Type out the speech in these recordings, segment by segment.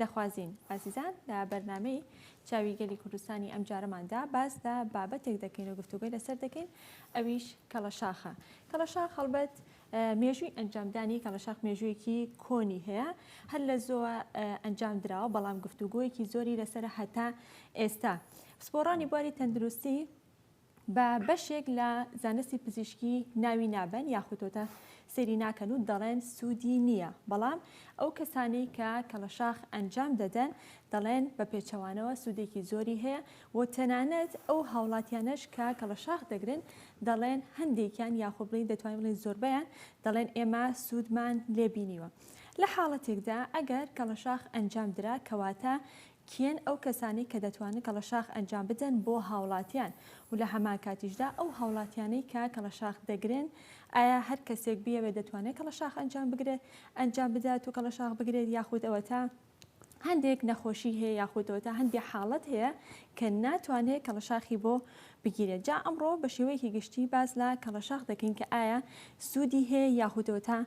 دەخوازین ئازیزان لە بەرنامەی چاوی گەلی کوردستانی ئەم جارەماندا باس لە بابەتێک دەکەین و گفتوگۆی لەسەر دەکەین ئەویش کەڵەشاخە کەڵەشاخ هەڵبەت مێژووی ئەنجامدانی کەڵەشاخ مێژوویەکی کۆنی هەیە هەر لە زۆوە ئەنجام دراوە بەڵام گفتوگۆیەکی زۆری لەسەر هەتا ئێستا پسپۆڕانی بواری تەندروستی بە بەشێک لە زانستی پزیشکی ناوی نابەن یاخوتۆتە سەیری ناکەن و دەڵێن سوودی نییە بەڵام ئەو کەسانەی کە کەڵەشاخ ئەنجام دەدەن دەڵێن بە پێچەوانەوە سوودێکی زۆری هەیە و تەنانەت ئەو هاوڵاتیانەش کە کەڵەشاخ دەگرن دەڵێن هەندێکیان یاخۆ بڵین دەتوانین بڵین زۆربەیان دەڵێن ئێمە سوودمان لێبینیوە لە حاڵەتێکدا ئەگەر کەڵەشاخ ئەنجام درا کەواتە کێن ئەو کەسانەی کە دەتوانن کەڵەشاخ ئەنجام بدەن بۆ هاوڵاتیان و لە هەمان کاتیشدا ئەو هاوڵاتیانەی کە کەڵەشاخ دەگرن ئایا هەر کەسێک بیەوێت دەتوانێت کەڵەشاخ ئەنجام بگرێت ئەنجام بدات و کەڵەشاخ بگرێت یاخود ئەوەتا هەندێک نەخۆشی هەیە یاخود ئەوەتا هەندێک حاڵەت هەیە کە ناتوانێت کەڵەشاخی بۆ بگیرێت جا ئەمڕۆ بە شێوەیەکی گشتی باز لە کەڵەشاخ دەکەین کە ئایا سوودی هەیە یاخود ئەوەتا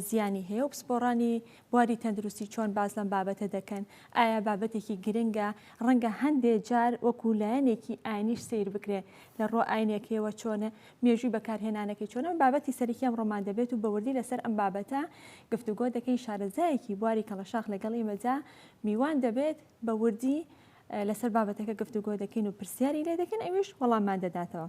زیانی هەیە و پسپۆڕانی بواری تەندروستی چۆن باس لەم بابەتە دەکەن؟ ئایا بابەتێکی گرنگە؟ ڕەنگە هەندێ جار وەکوو لایەنێکی ئاینیش سەیر بکرێ، لە ڕووە ئاینیەکەیەوە چۆنە؟ مێژووی بەکارهێنانەکەی چۆنە؟ بابەتی سەرەکی ئەمڕۆمان دەبێت و بە وردی لە سەر ئەم بابەتە گفتوگۆ دەکەین، شارەزایەکی بواری کەڵەشاخ لە گەڵ ئیمە جا میوان دەبێت، بە وردی لە سەر بابەتەکە گفتوگۆ دەکەین و پرسیاری لێ دەکەین ئەویش وەڵاممان دەداتەوە.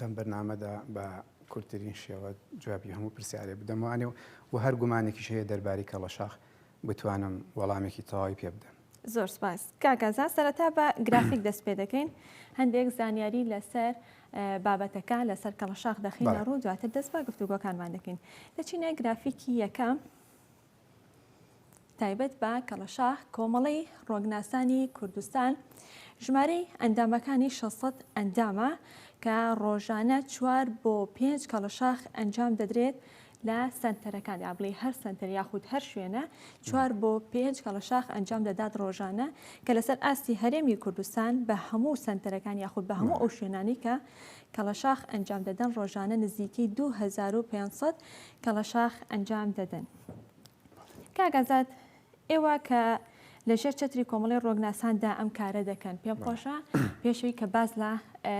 لەم بەرنامەدا بە کورتترین شێوە جوابی هەموو پرسیارێ بدەمانێ و و هەر گومانێکیش هەیە دەرباری کەڵەشاخ بتوانم وەڵامێکی تەواوی پێ بدەم. زۆر سپاس کاکەزا سەرەتا بە گرافیک دەست پێ دەکەین هەندێک زانیاری لەسەر بابەتەکە لەسەر کەڵەشاخ دەخینە ڕوو دواتر دەست بە گفتوگۆکانمان دەکەین دەچینە گرافیکی یەکەم تایبەت بە کەڵەشاخ کۆمەڵەی ڕۆگناسانی کوردستان ژمارەی ئەندامەکانی 600 ئەندامە کە ڕۆژانە چوار بۆ پێنج کەڵەشاخ ئەنجام دەدرێت لە سنتەرەکان یا بڵێ هەر سنتەر یاخود هەر شوێنە چوار بۆ پێنج کەڵەشاخ ئەنجام دەدات ڕۆژانە کە لەسەر ئاستی هەرێمی کوردستان بە هەموو سنتەرەکان یاخود بە هەموو ئەو شوێنانی کە کەڵەشاخ ئەنجام دەدەن ڕۆژانە نزیکەی 2500 کەڵەشاخ ئەنجام دەدەن. کاک ئازاد ئێوە کە لە ژێر چەتری کۆمەڵی ڕۆگناساندا ئەم کارە دەکەن پێم خۆشە پێشەوی کە باز لە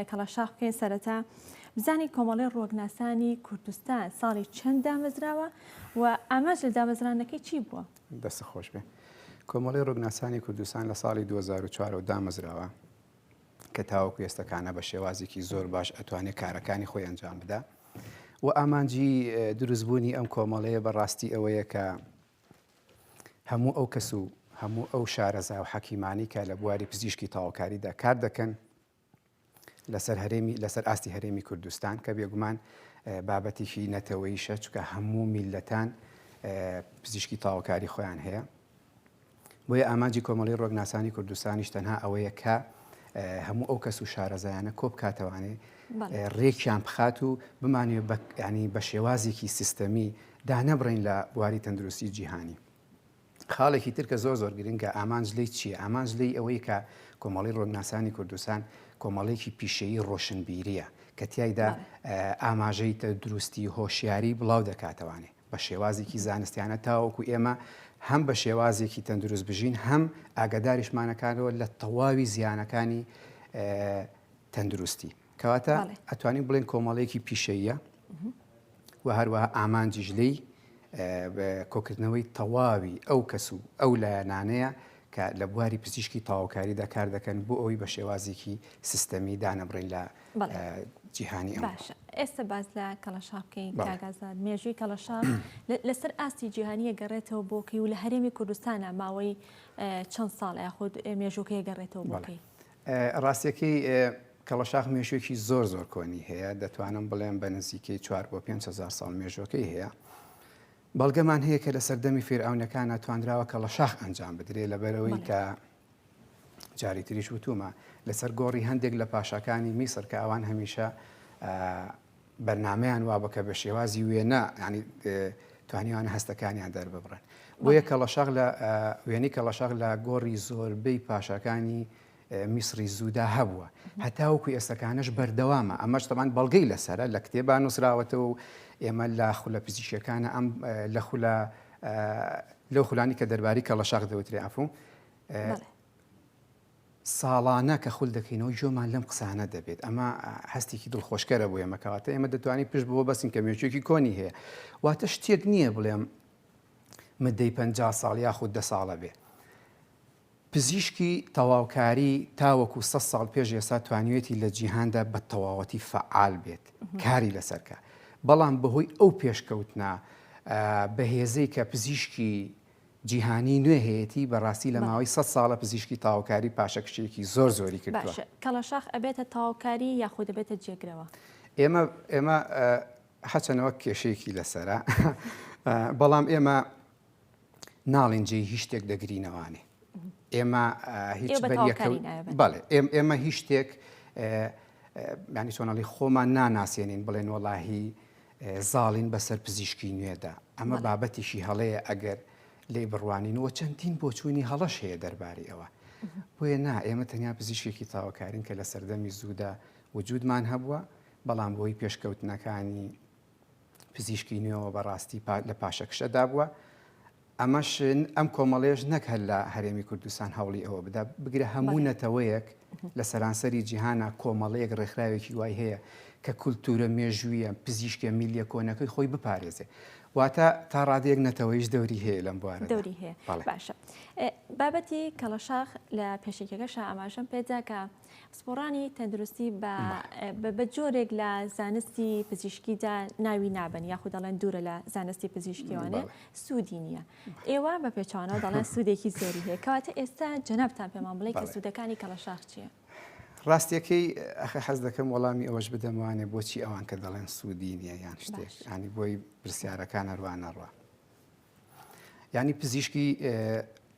کەڵەشاخ بکەین سەرەتا بزانین کۆمەڵی ڕۆگناسانی کوردستان ساڵی چەند دامەزراوە و ئاماژ لە دامەزرانەکەی چی بووە دەست خۆش بێ کۆمەڵی ڕۆگناسانی کوردستان لە ساڵی 2004 دامەزراوە کە تاوەکو ئێستا کانا بە شێوازێکی زۆر باش ئەتوانێت کارەکانی خۆی ئەنجام بدا و ئامانجی دروستبوونی ئەم کۆمەڵەیە بەڕاستی ئەوەیە کە هەموو ئەو کەس و هەموو ئەو شارەزا و حەکیمانی کە لە بواری پزیشکی تاوکاریدا کار دەکەن لەسەر هەرێمی لەسەر ئاستی هەرێمی کوردستان کە بێگومان بابەتێکی نەتەوەیشە چکە هەموو میلەتان پزیشکی تاوکاری خۆیان هەیە بۆیە ئامانجی کۆمەڵەی ڕۆکناسانی کوردستانیش تەنها ئەوەیە کە هەموو ئەو کەس و شارەزایانە کۆ بکاتەوانێ ڕێکیان بخات و بمانێ ینی بە شێوازێکی سیستەمی دانەبڕین لە بواری تەندروستی جیهانی. خاڵێکی ترکە زۆر زۆر گرنگە ئامانج لی چیە ئامانج لی ئەوەی کە کۆمەڵی ڕۆناسانی کوردستان کۆمەڵێکی پیشەیی ڕۆشنبیریە کە تایدا ئاماژەی تە دروستی هۆشیاری بڵاو دەکاتەوانێ بە شێوازێکی زانستیانە تاوەکو ئێمە هەم بە شێوازێکی تەندروست بژین هەم ئاگاداریشمانەکانەوە لە تەواوی زیانەکانی تەندروستی کەواتە ئەتوانین بڵێن کۆمەڵێکی پیشەیە و هەروەها ئامانجیش لی کۆکردنەوەی تەواوی ئەو کەس و ئەو لایەنانەیە کە لە بواری پزیشکی تاوکاریدا کار دەکەن بۆ ئەوی بە شێوازێکی سیستەمی دانەبڕین لە جیهانی باشە ئێستا باز لە کەڵەشاقی کاگازاد مێژووی کەڵەشا لەسەر ئاستی جیهانیە گەڕێتەوە بۆکەی و لە هەرێمی کوردستانە ماوەی چەند ساڵ یاخود مێژووکەیە گەڕێتەوە بۆکەی ڕاستەکەی کەڵەشاخ مێژوێکی زۆر زۆر کۆنی هەیە دەتوانم بڵێم بە نزیکەی 4 بۆ 500 ساڵ مێژوەکەی هەیە بەڵگەمان هەیە کە لە سەردەمی فێرعونەکانە توانراوە کە لە شاخ ئەنجام بدرێت لەبەرەوەی کە جاری تریش وتومە لەسەر گۆڕی هەندێک لە پاشاکانی میسر کە ئەوان هەمیشە بەرنمەیان وابە کە بە شێوازی وێنە ینی توانیوان هەستەکانیان دەرببڕن بۆیە کەڵەشاق لە وێنی کەڵەشاق لە گۆڕی زۆربەی پاشاکانی میسری زوودا هەبووە هەتاوکو ئێستەکانش بەردەوامە ئەمەش تەمان بەڵگەی لەسرە لە کتێبان نووسراوەتەوە و ئێمە لە خولە پزیشکەکانە ئەم لە خولە لەو خولانی کە دەرباری کەڵەشاق دەوترێ ئەفوو ساڵانە کە خول دەکەینەوە گوێمان لەم قسانە دەبێت ئەمە هەستێکی دڵخۆشکەرە بۆ ئێمە کەواتە ئێمە دەتوانین پشت بۆ بەسین کە مێچێکی کۆنی هەیە واتە شتێک نییە بڵێم مدەی پ ساڵ یاخود دە ساڵە بێ پزیشکی تەواوکاری تاوەکو سە ساڵ پێش ئێستا توانیوێتی لە جیهاندا بە تەواوەتی فعال بێت کاری لەسەرکە بەڵام بەهۆی ئەو پێشکەوتنا بەهێزەی کە پزیشکی جیهانی نوێ هەیەتی بەڕاستی لە ماوەی سەد ساڵە پزیشکی تاوکاری پاشەکشەیەکی زۆر زۆری کردوە. باشە کەڵەشاخ ئەبێتە تاوکاری یاخود ئەبێتە جێگرەوە؟ ئێمە ئێمە هەچەنە وەک کێشەیەکی لەسەرە بەڵام ئێمە ناڵین جێی هیچ شتێک دەگرینەوانێ ئێمە هیچ بەڵێ ئێمە هیچ شتێک ینی چۆنەڵی خۆمان ناناسیێنین بڵێن وەڵاهی زاڵین بەسەر پزیشکی نوێدا، ئەمە بابەتێکی هەڵەیە ئەگەر لێی بڕوانین و چەندین بۆچوونی هەڵەش هەیە دەربارەی ئەوە. بۆیە نا ئێمە تەنیا پزیشکێکی تاوەکارین کە لە سەردەمی زوودا وجودمان هەبووە، بەڵام بۆی پێشکەوتنەکانی پزیشکی نوێەوە بەڕاستی لە پاشەکشەدا بووە. ئەمەش ئەم کۆمەڵەیەش نەک هەر لە هەرێمی کوردستان هەوڵی ئەوە بدا، بگرە هەموو نەتەوەیەک لە سەرانسەری جیهانا کۆمەڵەیەک ڕێکخراوێکی وای هەیە کە کولتوورە مێژوویە پزیشکە میلیە کۆنەکەی خۆی بپارێزێ. واتە تا ڕادەیەک نەتەوەیش دەوری هەیە لەم بوارە دەوری هەیە باشە بابەتی کەڵەشاخ لە پێشێکەکەشە ئاماژەم پێدا کە پسپۆڕانی تەندروستی بە جۆرێک لە زانستی پزیشکیدا ناوی نابن یاخود دەڵێن دوورە لە زانستی پزیشکیوانە سوودی نییە ئێوە بە پێچوانەوە دەڵێن سوودێکی زۆری هەیە کەواتە ئێستا جەنابتان پێمان بڵێ کە سوودەکانی کەڵەشاخ چییە؟ ڕاستیەکەی ئەخە حەز دەکەم وەڵامی ئەوەش بدەموانێ بۆچی ئەوان کە دەڵێن سوودی نییە یان شتێک ینی بۆی پرسیارەکان هەروانەڕە یانی پزیشکی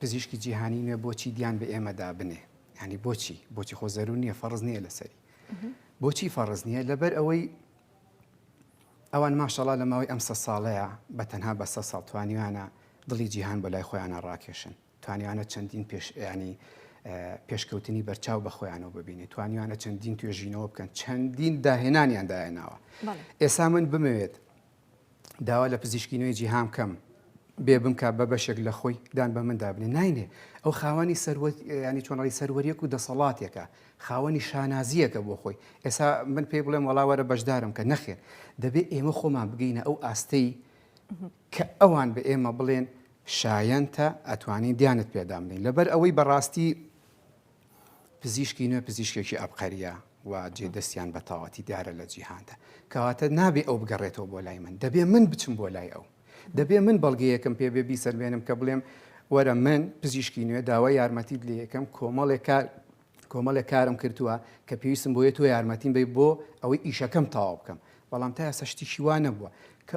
پزیشکی جیهانی نوێ بۆچی دیان بە ئێمەدا بنێ ینی بۆچی بۆچی خۆ زەرو نییە فەرز نییە لەسەری بۆچی فەرز نییە لەبەر ئەوەی ئەوان ماشەڵا لە ماوەی ئەم سە ساڵەیە بە تەنها بە سە ساڵ توانیوانە دڵی جیهان بە لای خۆیانە ڕاکێشن توانیانە چەندین پێش ینی پێشکەوتنی بەرچاو بە خۆیانەوە ببینێت توانیانە چەندین توێژینەوە بکەن چەندین داهێنانیان دایەناوە ئێسا من بمەوێت داوا لە پزیشکی نوێی جیهان بکەم بێ بمکە بە بەشێک لە خۆی دان بە مندا بنێ ناینێ ئەو خاوەنی سەروەت ینی چۆنڕی سەروەریەک و دەسەڵاتێکە خاوەنی شانازیەکە بۆ خۆی ئێسا من پێی بڵێم وڵاوەرە بەشدارم کە نەخێن دەبێت ئێمە خۆمان بگەینە ئەو ئاستەی کە ئەوان بە ئێمە بڵێن شایەنتە ئەتوانین دیانت پێدامنین لەبەر ئەوەی بەڕاستی پزیشکی نوێ پزیشکێکی ئەبقەریە و جێ دەستیان بە تەواوەتی دیارە لە جیهاندا. کەواتە نابێ ئەو بگەڕێتەوە بۆ لای من، دەبێ من بچم بۆ لای ئەو. دەبێ من بەڵگەیەکم پێ بێ بیسەلمێنم کە بڵێم وەرە من پزیشکی نوێ داوای یارمەتیت لێ ئەکەم کۆمەڵێک کار کۆمەڵێک کارم کردووە کە پێویستم بۆیە تۆ یارمەتیم بەی بۆ ئەوەی ئیشەکەم تەواو بکەم بەڵام تا ئێستا شتێکی وا نەبووە کە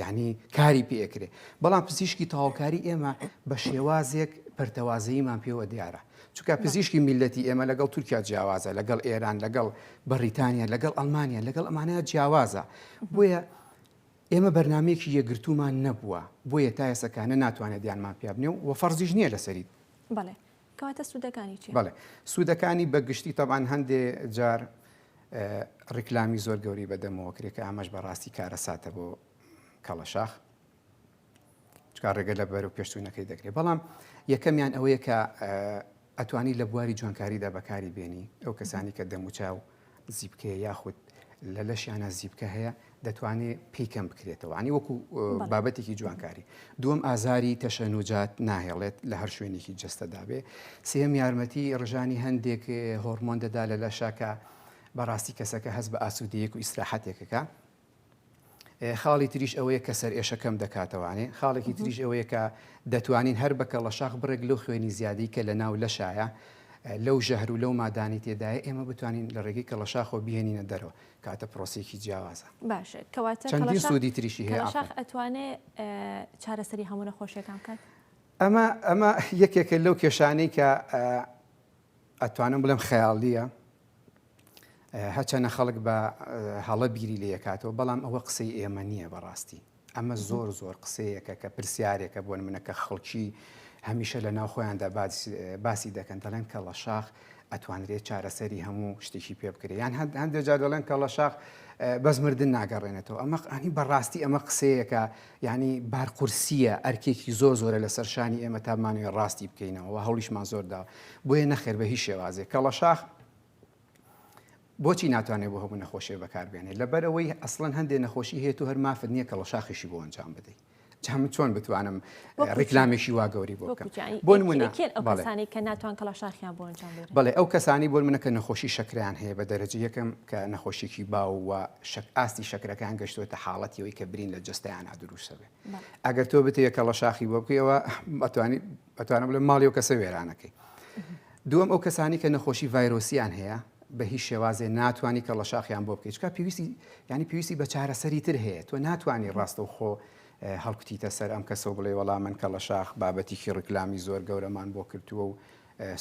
یانی کاری پێ ئەکرێ بەڵام پزیشکی تەواوکاری ئێمە بە شێوازێک پەرتەوازەییمان پێوە دیارە چونکە پزیشکی میلەتی ئێمە لەگەڵ تورکیا جیاوازە لەگەڵ ئێران لەگەڵ بەڕیتانیا لەگەڵ ئەلمانیا لەگەڵ ئەمانەیە جیاوازە بۆیە ئێمە بەرنمەیەکی یەگرتومان نەبووە بۆیە تا ئێسەکانە ناتوانێت دیانمان پیابنێ و فەرزیش نییە لەسەریت بەڵێ کەواتە سودەکانی چیە؟ بەڵێ سودەکانی بە گشتی تەبان هەندێ جار ڕیکلامی زۆر گەوری بەدەمەوە کرێ کە ئامەش بەڕاستی کارە ساتە بۆ کەڵەشاخ چکار ڕێگە لە بەر و پێشتونەکەی دەکرێت بەڵام یەکەمیان ئەوەیە کە ئەتوانی لە بواری جوانکاریدا بەکاری بێنی ئەو کەسانی کە دەموچاو زیپکەیە یاخود لە لەشیانە زیپکە هەیە دەتوانێت پێی کەم بکرێتەوە عنی وەکو بابەتێکی جوانکاری دووەم ئازاری تەشەنوجات ناهێڵێت لە هەر شوێنێکی جستەدابێ سێم یارمەتی ڕژانی هەندێک هۆرمۆن دەدا لە لەشەکە بەڕاستی کەسەکە هەست بە ئاسوودەیەک و ئیسراحەتێکەکە خاڵی تریش ئەوەیە کە سەرئێشە کەم دەکاتەوانێ، خاڵێکی تریش ئەوەیە کە دەتوانین هەر بە کەڵەشاخ بڕێک لەو خوێنی زیادەی کە لە ناو لەشایە لەو ژەهر و لەو مادانەی تێدایە ئێمە بتوانین لە ڕێگەی کەڵەشاخەوە بیهێنینە دەرەوە کەواتە پرۆسەیەکی جیاوازە. باشە کەواتە چەندین کەڵەشاخ سوودی تریشی هەیە ئافەرین. کەڵەشاخ ئەتوانێ ئە چارەسەری هەموو نەخۆشیەکان بکات؟ ئەمە ئەمە یەکێکە لەو کێشانەی کە ئە ئەتوانم بڵێم خەیاڵییە هەچەنە خەڵک بە هەڵە بیری لێکاتەوە بەڵام ئەوە قسەی ئێمە نییە بەڕاستی ئەمە زۆر زۆر قسەیەکە کە پرسیارێکە بۆن منە کە خەڵکی هەمیشە لە ناو خۆیاندا باسی دەکەن دەڵێن کە لە شاخ ئەتوانرێت چارەسەری هەموو شتێکی پێ بکرێت یان هەندێک جار دەڵێن کە لە شاخ بەس مردن ناگەڕێنێتەوە ئەمە ئەنی بەڕاستی ئەمە قسەیەکە ینی بارقورسیە ئەرکێکی زۆر زۆرە لە سەرشانی ئێمە تامانوێ ڕاستی بکەینەوە هەڵیشمان زۆردا بۆیە نەخێر بە هیچ شێوازێک کە لە شاخ بۆچی ناتوانێت بۆ هەموو نەخۆشێ بەکاربێنێت لەبەرەوەی ئەسڵەن هەندێک نەخۆشی هەیە و هەر مافت نییە کەڵە شاخیشی بۆ ئەنجام بدەیت جام چۆن بتوانم ڕیکلامیشی وا گەوری بۆ بۆ منەکانی کە ناتوان کەڵا شاخیان بۆ بڵێ ئەو کەسانی بۆ منەکە نەخۆشی شکریان هەیە بە دەرەجە یەکەم کە نەخۆشیێکی باو و شک ئاستی شکرەکان گەشتوێتە حاڵەتیەوەی کە برین لە جستیانە دروستە بێ ئەگەر تۆ بتەیە کەڵە شاخی بۆ بکەوە بەتوانانی ئەتوانم بڵێم ماڵی ئەو کەسە وێرانەکەی. دووەم ئەو کەسانی کە نەخۆشی ڤایرۆسییان هەیە بە هیچ شێوازێ ناتوانانی کە ڵەشاخیان بۆ بکەیت چکە پێویستی ینی پێویستی بە چارەسەری تر هەیە تۆ ناتوانانی ڕاستە و خۆ هەڵکوتیتە سەر ئەم کەسە و بڵێ وەڵا من کە ڵە شاخ بابەتیکی ڕیکلامی زۆر گەورەمان بۆ کردووە و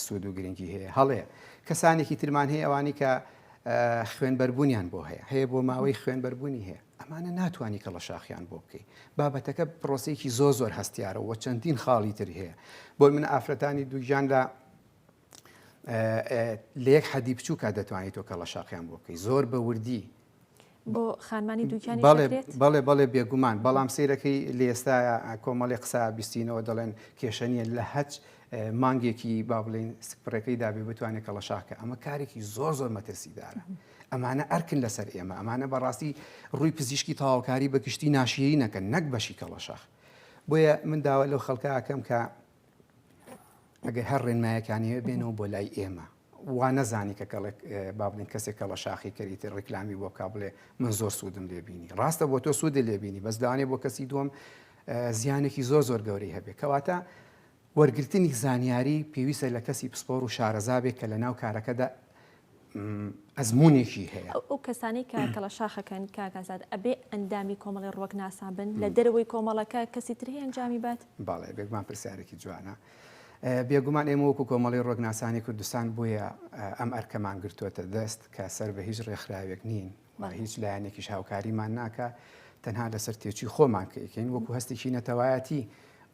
سوود و گرنگی هەیە هەڵێ کەسانێکی ترمان هەیە ئەوانی کە خوێن بەربوونیان بۆ هەیە هەیە بۆ ماوەی خوێن بەربوونی هەیە ئەمانە ناتوانی کەڵەشاخیان بۆ بکەی بابەتەکە پرۆسێکی زۆ زۆر هەستیارە وە چەندین خاڵی تری هەیە بۆی من ئافرەتانی دووگیان لە لە یەک حەدی بچووکە دەتوانیت تۆ کەڵە شاقیان بۆ بکەی زۆر بە وردی بۆ خانمانی دووکیانی بەڵێ بەڵێ بێگومان بەڵام سیرەکەی لە ئێستا کۆمەڵی قسە بیستینەوە دەڵێن کێشەنیە لە هەچ مانگێکی با بڵین سکپڕەکەی دابێ بتوانێت کەڵەشاکە ئەمە کارێکی زۆر زۆر مەترسیدارە. ئەمانە ئەرکن لەسەر ئێمە، ئەمانە بەڕاستی ڕووی پزیشکی تەواوکاری بە گشتی ناشیرینەکەن نەک بەشی کەڵەشاخ. بۆیە من داوا لەو خەڵکە ئەکەم کە ئەگەر هەر ڕێنمایەکان هەیە بێنەوە بۆ لای ئێمە. وا نەزانی کە کەڵێک با بڵین کەسێک کەڵەشاخی کەریتر ڕیکلامی بۆ بکا بڵێ من زۆر سوودم لێ بینی. ڕاستە بۆ تۆ سوودت لێ بینی بەس لەوانەیە بۆ کەسی دووەم زیانێکی زۆر زۆر گەورەی هەبێت. کەواتە وەرگرتنی زانیاری پێویستە لە کەسی پسپۆڕ و شارەزا بێت کە لەناو کارەکەدا ئەزموونێکی هەیە. ئەو کەسانەی کە کەڵەشاخەکەن کاک ئازاد ئەبێ ئەندامی کۆمەڵی ڕوەکناسان بن؟ لە دەرەوەی کۆمەڵەکە کەسی تر هەیە ئەنجامی بات؟ بەڵێ بێگومان پرسیارێکی جوانە. بێگومان ئێمە وەکو کۆمەڵی ڕوەکناسانی کوردستان بۆیە ئەم ئەرکەمان گرتووەتە دەست کە سەر بە هیچ ڕێکخراوێک نین و هیچ لایەنێکیش هاوکاریمان ناکا تەنها لەسەر تێچووی خۆمان کە ئەیکەین وەکو هەستێکی نەتەوایەتی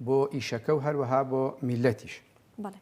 بۆ ئیشەکە و هەروەها بۆ میللەتیش. بەڵێ.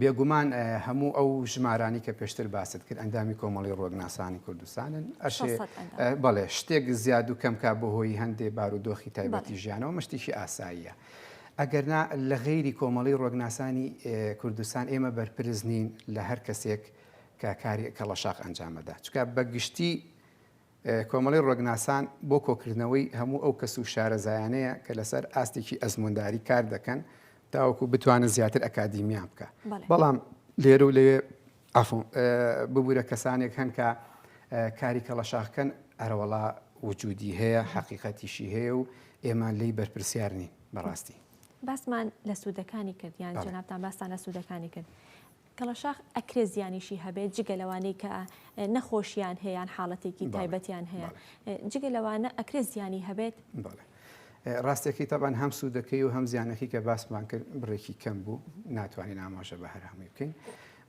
بێگومان هەموو ئەو ژمارانی کە پێشتر باست کرد ئەندامی کۆمەڵی ڕۆگناسانی کوردستانن ئەشێ بەڵێ شتێک زیاد و کەمکە بۆ هۆی هەندێ بارودۆخی تایبەتی ژیانەوە مشتێکی ئاساییە. ئەگەرنا لە غەیری کۆمەڵی ڕۆگناسانی کوردستان ئێمە بەرپرس نین لە هەر کەسێک کە کاری کەڵەشاق ئەنجامەدا چکە بە گشتی کۆمەڵەی ڕوەگناسان بۆ کۆکردنەوەی هەموو ئەو کەس و شارەزایانەیە کە لەسەر ئاستێکی ئەزموونداری کار دەکەن تاوەکو بتوانن زیاتر ئەکادیمیان بکە بەڵام لێرە و لەوێ ئەفۆ ببوورە کەسانێک هەن کە کاری کەڵەشاخکەن ئەرەوەڵا وجودی هەیە حەقیقەتیشی هەیە و ئێمان لی بەرپرسیار نین بەڕاستی باسمان لە سوودەکانی کرد یان جنابتان باستان لە سوودەکانی کرد کەڵەشاخ ئەکرێ زیانیشی هەبێت جگە لەوانەی کە نەخۆشیان هەیە یان حاڵەتێکی تایبەتیان هەیە جگە لەوانە ئەکرێ زیانی هەبێت ڕاستەکەی تاوان هەم سوودەکەی و هەم زیانەکەی کە باسمان کرد بڕێکی کەم بوو ناتوانین ئاماژە بە هەر هەمووی بکەین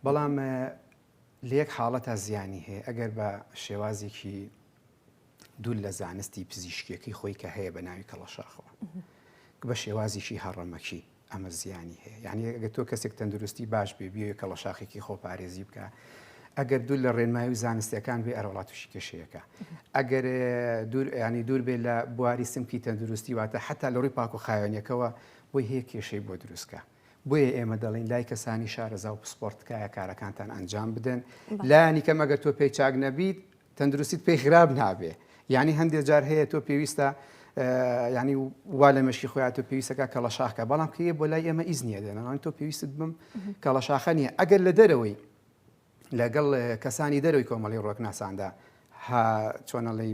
بەڵام لەیەک حاڵەت تا زیانی هەیە ئەگەر بە شێوازێکی دوور لە زانستی پزیشکیەکەی خۆی کە هەیە بە ناوی کەڵەشاخەوە بە شێوازیشی هەڕەمەکی ئەمە زیانی هەیە یانی ئەگەر تۆ کەسێک تەندروستی باش بێ بێ کەڵە شاخێکی خۆپارێزی بکە ئەگەر دوور لە ڕێنمایی و زانستەکان بێ ئەرۆڵات تووشی کێشەیەەکە ئەگەر دوور ینی دوور بێ لە بواری سمکی تەندروستی واتە حتا لە ڕووی پاک و خاوێنەکەەوە بۆی هەیە کێشەی بۆ دروستکە بۆیە ئێمە دەڵین لای کەسانی شارەزا و پسپۆرتکایە کارەکانتان ئەنجام بدەن لانی کەم ئەگەر تۆ پێی چاک نەبیت تەندروستیت پێی خراپ نابێ یعنی هەندێک جار هەیە تۆ پێویستە ینی وا لە مەشی خۆیان تۆ پێویستەکە کەڵەشاخکە بەڵام کە بۆ لای ئێمە ئیز نیە دێنەوان تۆ پێویستت بم کەڵەشاخە نیە ئەگەر لە دەرەوەی لەگەڵ کەسانی دەرەوەی کۆمەڵی ڕۆکناساندا چۆنەڵی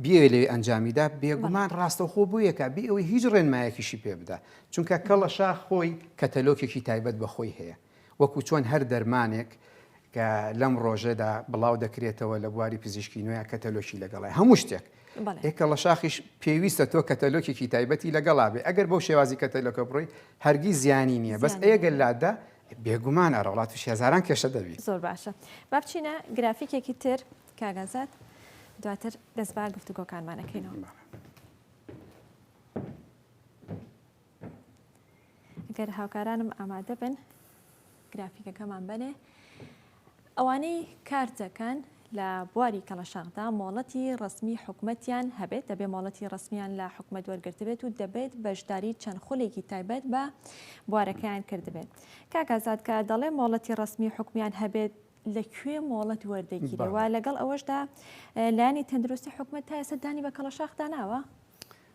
بێ لێ ئەنجامیدا بێگومان ڕاستەخۆ بوویەکە بێ ئەوەی هیچ ڕێنمایەکیشی پێ بدا چونکە کەڵە شاخ خۆی کەتەلۆکێکی تایبەت بەخۆی هەیە وەکو چۆن هەر دەرمانێک کە لەم ڕۆژەدا بڵاو دەکرێتەوە لە بواری پزیشکی نوێ کەتەلۆکی لەگەڵای هەموو شتێک ئێ کەڵەشاخیش پێویستە تۆ کەتەلۆکێکی تایبەتی لەگەڵا بێ ئەگەر بەو شێوازی کەتەلۆکە بڕۆی هەرگی زیانی نییە بەس ئەگەر لادا بێگومان ئەرەڵات و شێزاران کێشە دەبی زۆر باشە با بچینە گرافیکێکی تر کاگازات دواتر دەست با گفتوگۆکانمانەکەینەوە. گەر هاوکارانم ئامادە بن گرافیکەکەمان بەنێ ئەوانەی کار دەکەن لە بواری کەڵەشاخدا مۆڵەتی ڕسمی حکومەتیان هەبێت دەبێت مۆڵەتی ڕسمیان لە حکومەت وەرگرتبێت و دەبێت بەشداری چەند خولێکی تایبەت بە بوارەکەیان کردبێت کاکزاد کە دەڵێ مۆڵەتی ڕسمی حکومیان هەبێت لە کوێ مۆڵەت وەردەگیرەوە لەگەڵ ئەوەشدا لانی تەندروستی حکومەت تا ئێستا دانی بە کەڵەشاخدا ناوە؟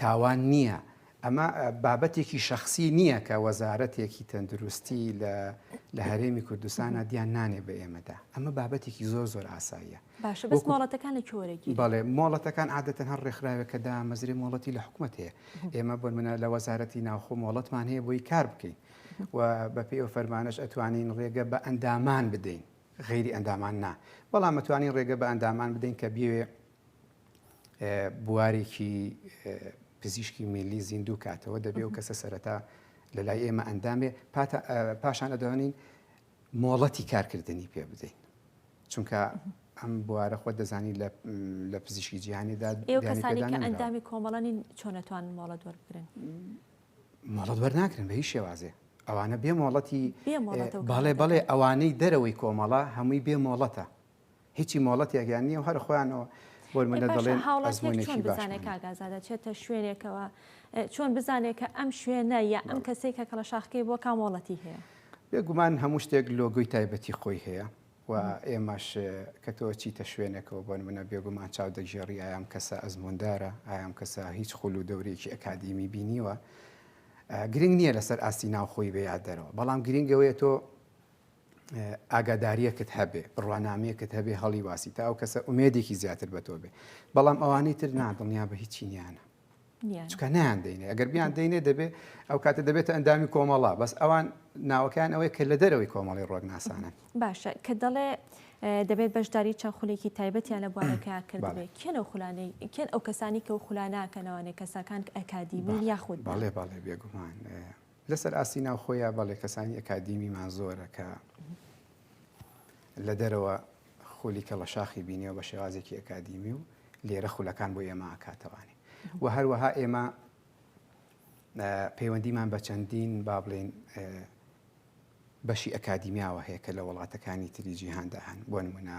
تاوان نییە، ئەمە بابەتێکی شەخسی نییە کە وەزارەتێکی تەندروستی لە هەرێمی کوردستانە دیان نانێ بە ئێمەدا، ئەمە بابەتێکی زۆر زۆر ئاساییە. باشە بەس مۆڵەتەکان لە کوێ وەرەگیرێ؟ بەڵێ مۆڵەتەکان عادەتەن هەر ڕێکخراوێک کە دامەزرێ مۆڵەتی لە حکومەت هەیە. ئێمە بۆ نموونە لە وەزارەتی ناوخۆ مۆڵەتمان هەیە بۆی کار بکەین و بەپێی ئەو فەرمانەش ئەتوانین ڕێگە بە ئەندامان بدەین غەیری ئەندامان نا، بەڵام ئەتوانین ڕێگە بە ئەندامان بدەین کە بیەوێ بوارێکی پزیشکی میلی زیندوو کاتەوە دەبێ و کەسە سەرەتا لە لای ئێمە ئەندام بێ پاشان ئەدوانین مۆڵەتی کارکردنی پێ بدەین چونکە ئەم بوارە خۆ دەزانی لە پزیشکی جیهانیدا ئەندامی کۆمەڵانی چۆنەتوان مۆڵەت وەرگن مۆڵەت وەرناکرن بە هی شێوازێ ئەوانە بێ مۆڵەتی بەڵێ بەڵێ ئەوانەی دەرەوەی کۆمەڵە هەمووی بێ مۆڵەتە هیچی مۆڵەتێکیان نییە و هەر خۆیانەوە بۆ منە دەڵێن ئەزمونێکی باش کاگازادە چێتە شوێنێکەوە چۆن بزانێت کە ئەم شوێنە یا ئەم کەسێک کە کەڵە شاخکەی بۆ کامۆڵەتی هەیە بێگومان هەموو شتێک لۆگوی تایبەتی خۆی هەیە و ئێمەش کە تۆ چیتە شوێنێکەوە بۆن منە بێگومان چاو دەگێڕی ئایام کەسە ئەزموندارە ئایام کەسە هیچ خول و دەورێکی ئەکادیمی بینیوە گرنگ نییە لەسەر ئاستی ناوخۆی بەیاد دەرەوە بەڵام گرنگەوەیە تۆ ئاگاداریەکت هەبێ بڕوانامەیەکت هەبێ هەڵی واسی تا ئەو کەسە ئومێدێکی زیاتر بە تۆ بێ بەڵام ئەوانەی تر نادڵنیا بە هیچی نیانە چکە نیان دەینێ ئەگەر بیان دەینێ دەبێ ئەو کاتە دەبێتە ئەندامی کۆمەڵا بەس ئەوان ناوەکان ئەوەیە کە لە دەرەوەی کۆمەڵی ڕۆگناسانن باشە کە دەڵێ دەبێت بەشداری چەند خولێکی تایبەتیان لە بوارەکە کردێ کێن ئەو خولانەی کێن ئەو کەسانی کە و خولاناکەنەوانێ کەساکان ئەکادیمی یاخود بەڵێ بەڵێ بێگومان لەسەر ئاستی ناوخۆیە بەڵێ کەسانی ئەکادیمیمان زۆرە کە لە دەرەوە خولی کەڵەشاخی بینیەوە بە شێوازێکی ئەکادیمی و لێرە خولەکان بۆ ئێمە ئاکاتەوانێ و هەروەها ئێمە پەیوەندیمان بە چەندین با بڵێن بەشی ئەکادیمیاوە هەیە کە لە وڵاتەکانی تری جیهاندا هەن بۆ نمونە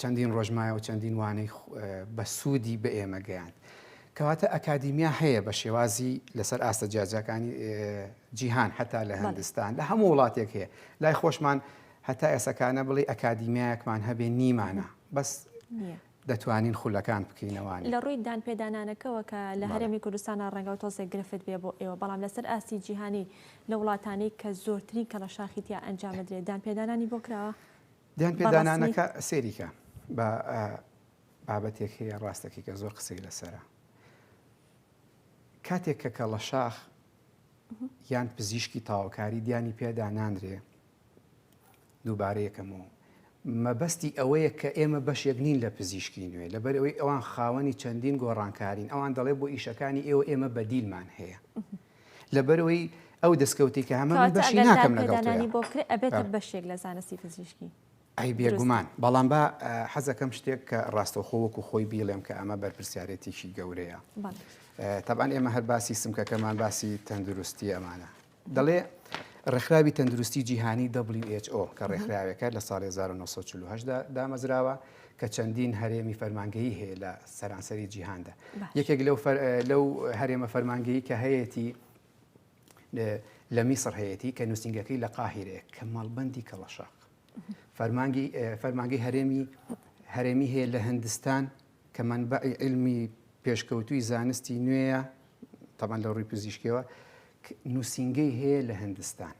چەندین ڕۆژ مایە و چەندین وانەی بەسوودی بە ئێمە گەیاند. کەواتە ئەکادیمیا هەیە بە شێوازی لەسەر ئاستە جیاجیاکانی جیهان حتا لە هندستان لە هەموو وڵاتێک هەیە لای خۆشمان هەتا ئێسەکانە بڵێ ئەکادیمیایەکمان هەبێ نیمانە بەس دەتوانین خولەکان بکەینەوانی. لە ڕووی دانپێدانانەکەوە کە لە هەرێمی کوردستانا ڕەنگە تۆزێک گرفت بێ بۆ ئێوە بەڵام لەسەر ئاستی جیهانی لە وڵاتانەی کە زۆرترین کەڵەشاخی تیا ئەنجامدرێ دانپێدانانی بۆ کراوە بە ڕەسمی؟ دانپێدانانەکە سەیریکە با بابەتێک هەیە ڕاستەکەی کە زۆر قسەی لەسەرە کاتێک کە کەڵەشاخ یان پزیشکی تاوەکاری دیانی پێدا نانرێ دووبارە یەکەمەوە مەبەستی ئەوەیە کە ئێمە بەشێک نین لە پزیشکی نوێ، لەبەر ئەوەی ئەوان خاوەنی چەندین گۆڕانکارین، ئەوان دەڵێ بۆ ئیشەکانی ئێوە ئێمە بەدیلمان هەیە. لەبەرەوەی ئەو دەستکەوتی کە هەمە من بەشی ناکەم لەگەڵ تۆ. کەواتە بۆ کرێ ئەبێتە بەشێک لە زانستی پزیشکی. ئەی بێگومان، بەڵام با حەزەکەم شتێک کە ڕاستەوخۆ وەکو خۆی بیڵێم کە ئەمە بەرپرسیارێتیی گەورەیە. تەبعەن ئێمە هەر باسی سمکەکەمان باسی تەندروستی ئەمانە. دەڵێ ڕێکخراوی تەندروستی جیهانی WHO کە ڕێکخراوێکە لە ساڵی 1940 دا دامەزراوە کە چەندین هەرێمی فەرمانگەی هەیە لە سەرانسەری جیهاندا یەکێک لەو لەو هەرێمە فەرمانگەی کە هەیەتی لە میسر هەیەتی کە نووسنگەکەی لە قاهیرەیە کە ماڵبندی کەڵەشاق فەرمانگی فەرمانگەی هەرێمی هەرێمی هەیە لە هندستان کە مەنبەعی عیلمی پێشکەوتووی زانستی نوێیە، تەبعەن لە ڕووی پزیشکیەوە، نووسینگەی هەیە لە هندستان.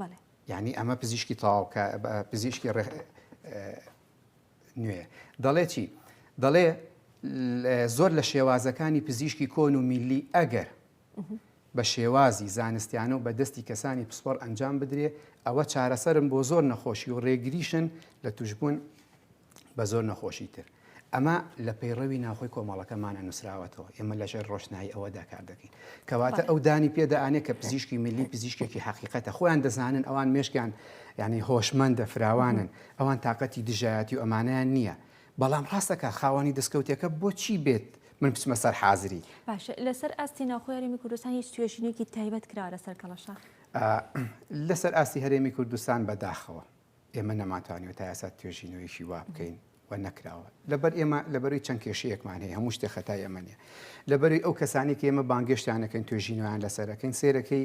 بەڵێ. یعنی ئەمە پزیشکی تەواوکە پزیشکی ڕێ نوێ دەڵێ چی دەڵێ زۆر لە شێوازەکانی پزیشکی کۆن و میلی ئەگەر بە شێوازی زانستیانە و بە دەستی کەسانی پسپۆڕ ئەنجام بدرێ، ئەوە چارەسەرن بۆ زۆر نەخۆشی و رێگریشن لە توشبوون بە زۆر نەخۆشی تر. ئەمە لە پەیڕەوی ناوخۆی کۆمەڵەکەمانە نووسراوەتەوە، ئێمە لە ژێر رۆشنایی ئەوەدا کار دەکەین. کەواتە ئەو دانی پێ دەئانێ کە پزیشکی میللی پزیشکێکی حەقیقەتە، خۆیان دەزانن ئەوان مێشکیان یانی هۆشمەندە، فراوانن، ئەوان تاقەتی دژایەتی و ئەمانەیان نییە، بەڵام ڕاستەکا خاوەنی دەسکەوتێکە بۆ چی بێت من بچمە سەر حازری. باشە لەسەر ئاستی ناوخۆی هەرێمی کوردستان هیچ توێژینێکی تایبەت کراوە لەسەر کەڵەشاخ؟ لەسەر ئاستی هەرێمی کوردستان بەداخەوە ئێمە نەمانتوانیوە تا ئێستا توێژینەوەیشی وا بکەین و نەکراوە لەبەر ئێمە لەبەروی چەند کێشەیەکمان هەیە هەموو شتێ خەتای ئەمە نیە لەبەروی ئەو کەسانی کە ئێمە بانگێشتیانەکەن توێژینەوەیان لەسەرەکەین سێرەکەی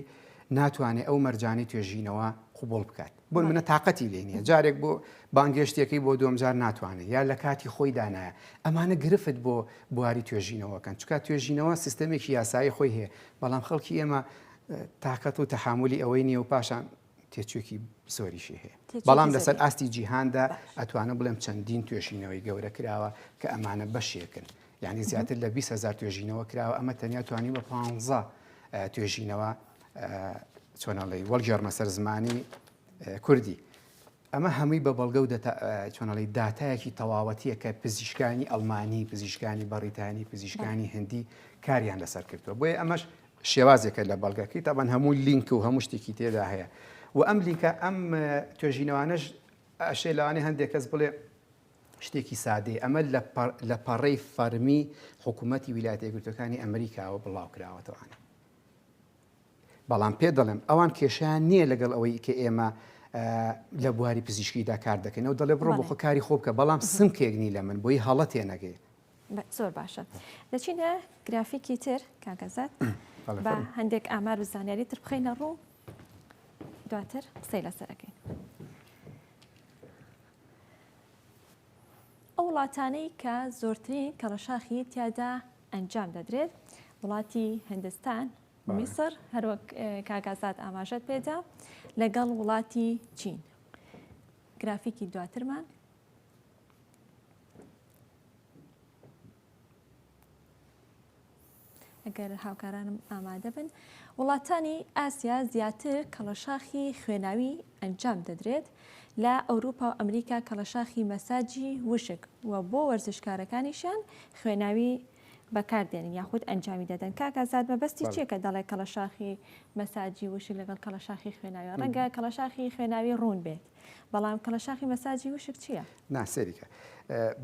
ناتوانێت ئەو مەرجانەی توێژینەوە قوبڵ بکات بۆ نمونە تاقەتی لێ نیە جارێک بۆ بانگێشتیەکەی بۆ دوم جار ناتوانێت یا لە کاتی خۆی دانایە ئەمانە گرفت بۆ بواری توێژینەوەکەن چکا توێژینەوە سیستەمێکی یاسایی خۆی هەیە بەڵام خەڵکی ئێمە تااقەت و تەحملی ئەوەی نیە و پاشان تێچووکی زۆریشی هەیە بەڵام لەسەر ئاستی جیهاندا ئەتوانە بڵێم چەندین توێژینەوەی گەورە کراوە کە ئەمانە بەشێکن یعنی زیاتر لە 20هزار توێژینەوە کراوە ئەمە تەنیا توانی بە پ توێژینەوە چۆن ئەڵێی وەڵگێڕمە سەر زمانی کوردی ئەمە هەمووی بە بەڵگە و چۆنەڵی داتایەکی تەواوەتیە کە پزیشکانی ئەلمانی پزیشکانی بەڕیتانی پزیشکانی هندی کاریان لەسەر کردووە بۆیە ئەمەش شێوازێکە لە بەڵگەکەی تاوان هەموو لینک و هەموو شتێکی تێدا هەیە و ئەم لینکە ئەم توێژینەوانش ئەشێ لەوانێ هەندێک کەس بڵێ شتێکی سادەی ئەمە لە پەڕەی فەرمی حکوومەتتی ویلایەتە گرتوەکانی ئەمریکاوە بڵاو کراوەتەوانە بەڵام پێت دەڵێم ئەوان کێشیان نییە لەگەڵ ئەوەی کە ئێمە لە بواری پزیشکیدا کار دەکەین و دەڵێ بڕۆ بۆ خۆ کاری خۆ بکە بەڵام سمکێک نی لە من بۆی هەڵە تێنەگەی زۆر باشە دەچینە گرافیکی تر کاکەزات بە هەندێک ئامار و زانیاری تر بخینە ڕوو دواتر قسەی لەسەرەکەین ئەو وڵاتانەی کە زۆرترین کەڵەشاخی تیادا ئەنجام دەدرێت. وڵاتی هندستان، میسر، هەروەک کاک ئازاد ئاماژەت پێدا لەگەڵ وڵاتی چین گرافیکی دواترمان ئەگەر هاوکارانم ئامادە بن وڵاتانی ئاسیا زیاتر کەڵەشاخی خوێناوی ئەنجام دەدرێت لە ئەوروپا و ئەمریکا کەڵەشاخی مەساجی وشک و بۆ وەرزشکارەکانیشیان خوێناوی بەکار دێنن یاخود ئەنجامی دەدەن کاک ئازاد مەبەستی چیە کە دەڵێ کەڵەشاخی مەساجی وشک لەگەڵ کەڵەشاخی خوێناوی ڕەنگە کەڵەشاخی خوێناوی ڕوون بێت بەڵام کەڵەشاخی مەساجی وشک چییە؟ نا سەیریکە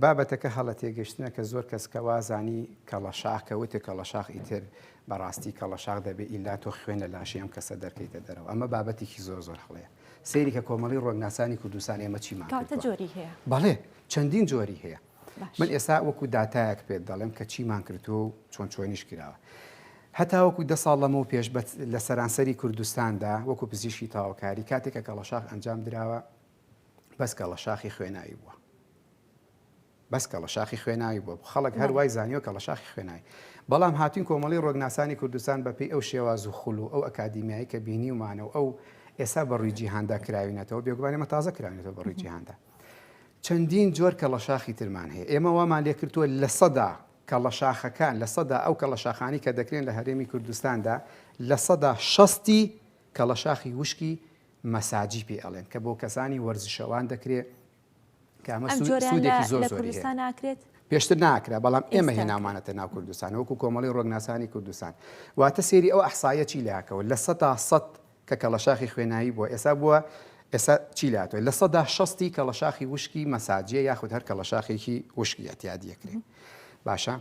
بابەتەکە هەڵە تێگەشتنە کە زۆر کەس کە وازانی کەڵەشاخ کە وتێ کەڵەشاخ ئیتر بەڕاستی کەڵەشاخ دەبێ ئیلا تۆ خوێن لە لاشەی ئەم کەسە دەرکەیتە دەرەوە ئەمە بابەتێکی زۆر زۆر هەڵەیە سەیری کە کۆمەڵی ڕۆناسانی کوردستان ئێمە چیمان کاتە جۆری هەیە بەڵێ چەندین جۆری هەیە من ئێستا وەکو دااتایەک پێت دەڵێم کە چیمان کردووە و چۆن چۆنیش کراوە هەتاوەکو دە ساڵ لەمە و پێش لە سەرانسەری کوردستاندا وەکو پزیشکی تاوکاری کاتێکە کەڵەشاخ ئەنجام دراوە بەس کەڵەشاخی خوێناوی بووە بەس کەڵە شاخی خوێناوی بوە خەڵک هەر وای زانیوە کەڵە شاخی خوێناوی بەڵام هاتوین کۆمەڵی ڕۆگناسانی کوردستان بە پێی ئەو شێواز و خول و ئەو ئەکادیمیایی کە بینیومانە و ئەو ئێسا بە ڕوی جیهاندا کراوینەتەوە بێگومان ئێمە تازە کراونێتەوە بە ڕوی جیهاندا چەندین جۆر کەڵە شاخی ترمان هەیە ئێمە وامان لێکردووە لە سەدا کەڵە شاخەکان لە سەدا ئەو کەڵە شاخانی کە دەکرێن لە هەرێمی کوردستاندا لە سەدا شەستی کەڵە شاخی وشکی مەساجی پێ ئەڵێن کە بۆ کەسانی وەرزشەوان دەکرێت کە ئەمە سوودێکی زۆر زۆری هەیە. پێشتر ناکرا، بەڵام ئێمە هێناومانەتە ناو کوردستان وەکو کۆمەڵی ڕۆگناسانی کوردستان. واتە سەیری ئەو ئەحساییە چی لەکەوە، لە سەدا سەد کە کەڵەشاخی خوێناوی بووە، ئێستا بووە ئێستا چی لاتوێ، لە سەدا شەستی کەڵەشاخی وشکی مەساجییە یاخود هەر کەڵەشاخێکی وشکی ئەتیادیەکرێ. باشە؟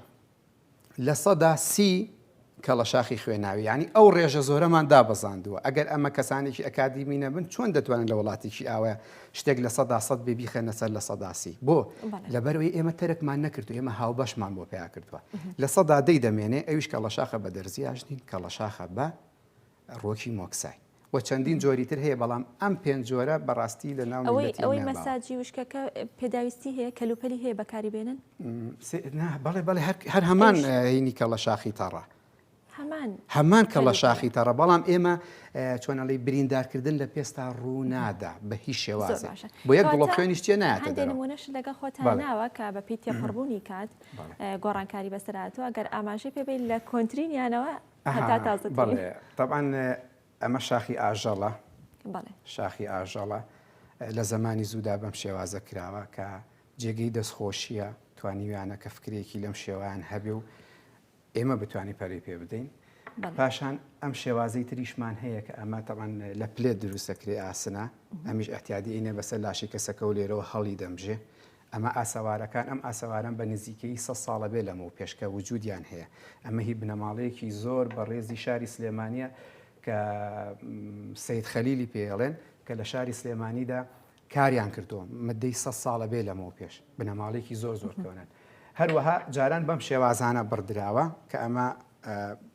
لە سەدا سی کەڵەشاخی خوێناوی یانی ئەو ڕێژە زۆرەمان دابەزاندووە، ئەگەر ئەمە کەسانێکی ئەکادیمی نەبن چۆن دەتوانن لە وڵاتێکی ئاوایە شتێک لە سەدا سەد بێ بیخەنە سەر لە سەدا سی؟ بۆ؟ لەبەرەوەی ئێمە تەرکمان نەکردو ئێمە هاوبەشمان بۆ پیا کردووە لە سەدا دەی دەمێنێ ئەویش کەڵەشاخە بە دەرزی ئاژنین کەڵەشاخە بە ڕۆکی مۆکسای. و چەندین جۆری تر هەیە بەڵام ئەم پێنج جۆرە بەڕاستی لە ناو میللەتی ئەوەی ئەوەی مەساجی وشکەکە پێداویستی هەیە کەلوپەلی هەیە بەکاری بێنن؟ نا بەڵێ بەڵێ هەر هەمان هینی کەڵە شاخی تەڕە هەمان هەمان کەڵە شاخی تەڕە بەڵام ئێمە چۆنەڵی بریندارکردن لە پێستا ڕوونادا بە هیچ شێوازە بۆ یەک بڵۆ خوێنیش تێ ناتەدەنمونەش لەگە خۆتان ناوە کە بە پێی تێپەڕبوونی کات گۆڕانکاری بەسەراتەوە گەر ئاماژەی پێبین لە کۆنتترینیانەوە هەتا تازەترین. بەڵێ تەبعەن ئەمە شاخی ئاژەڵە شاخی ئاژەڵە لە زمانی زوودا بەم شێوازە کراوە کە جێگەی دەستخۆشیە توانیویانە کە فکرێکی لەم شێوایان هەبێ و ئێمە بتوانانی پەری پێ بدەین پاشان ئەم شێوازی تریشمان هەیە کە ئەمە تەوان لە پلێت دروستەکرێ ئاسنە ئەمیش ئەتیادی ئینە بەسەر لاشی کەسەکە و لێرەوە هەڵی دەمژێ ئەمە ئاسەوارەکان، ئەم ئاسەوارەم بە نزیکەیی سەد ساڵە بێ لەمەو پێش کە وجودیان هەیە، ئەمە هی بنەماڵەیەکی زۆر بەڕێزی شاری سلێمانیە کە سەید خەلیلی پێ ئەڵێن کە لە شاری سلێمانیدا کاریان کردوە مدەی سەد ساڵە بێ لەمەو پێش، بنەماڵەیەکی زۆر زۆر کۆنن. هەروەها جاران بەم شێوازانە بڕدراوە کە ئەمە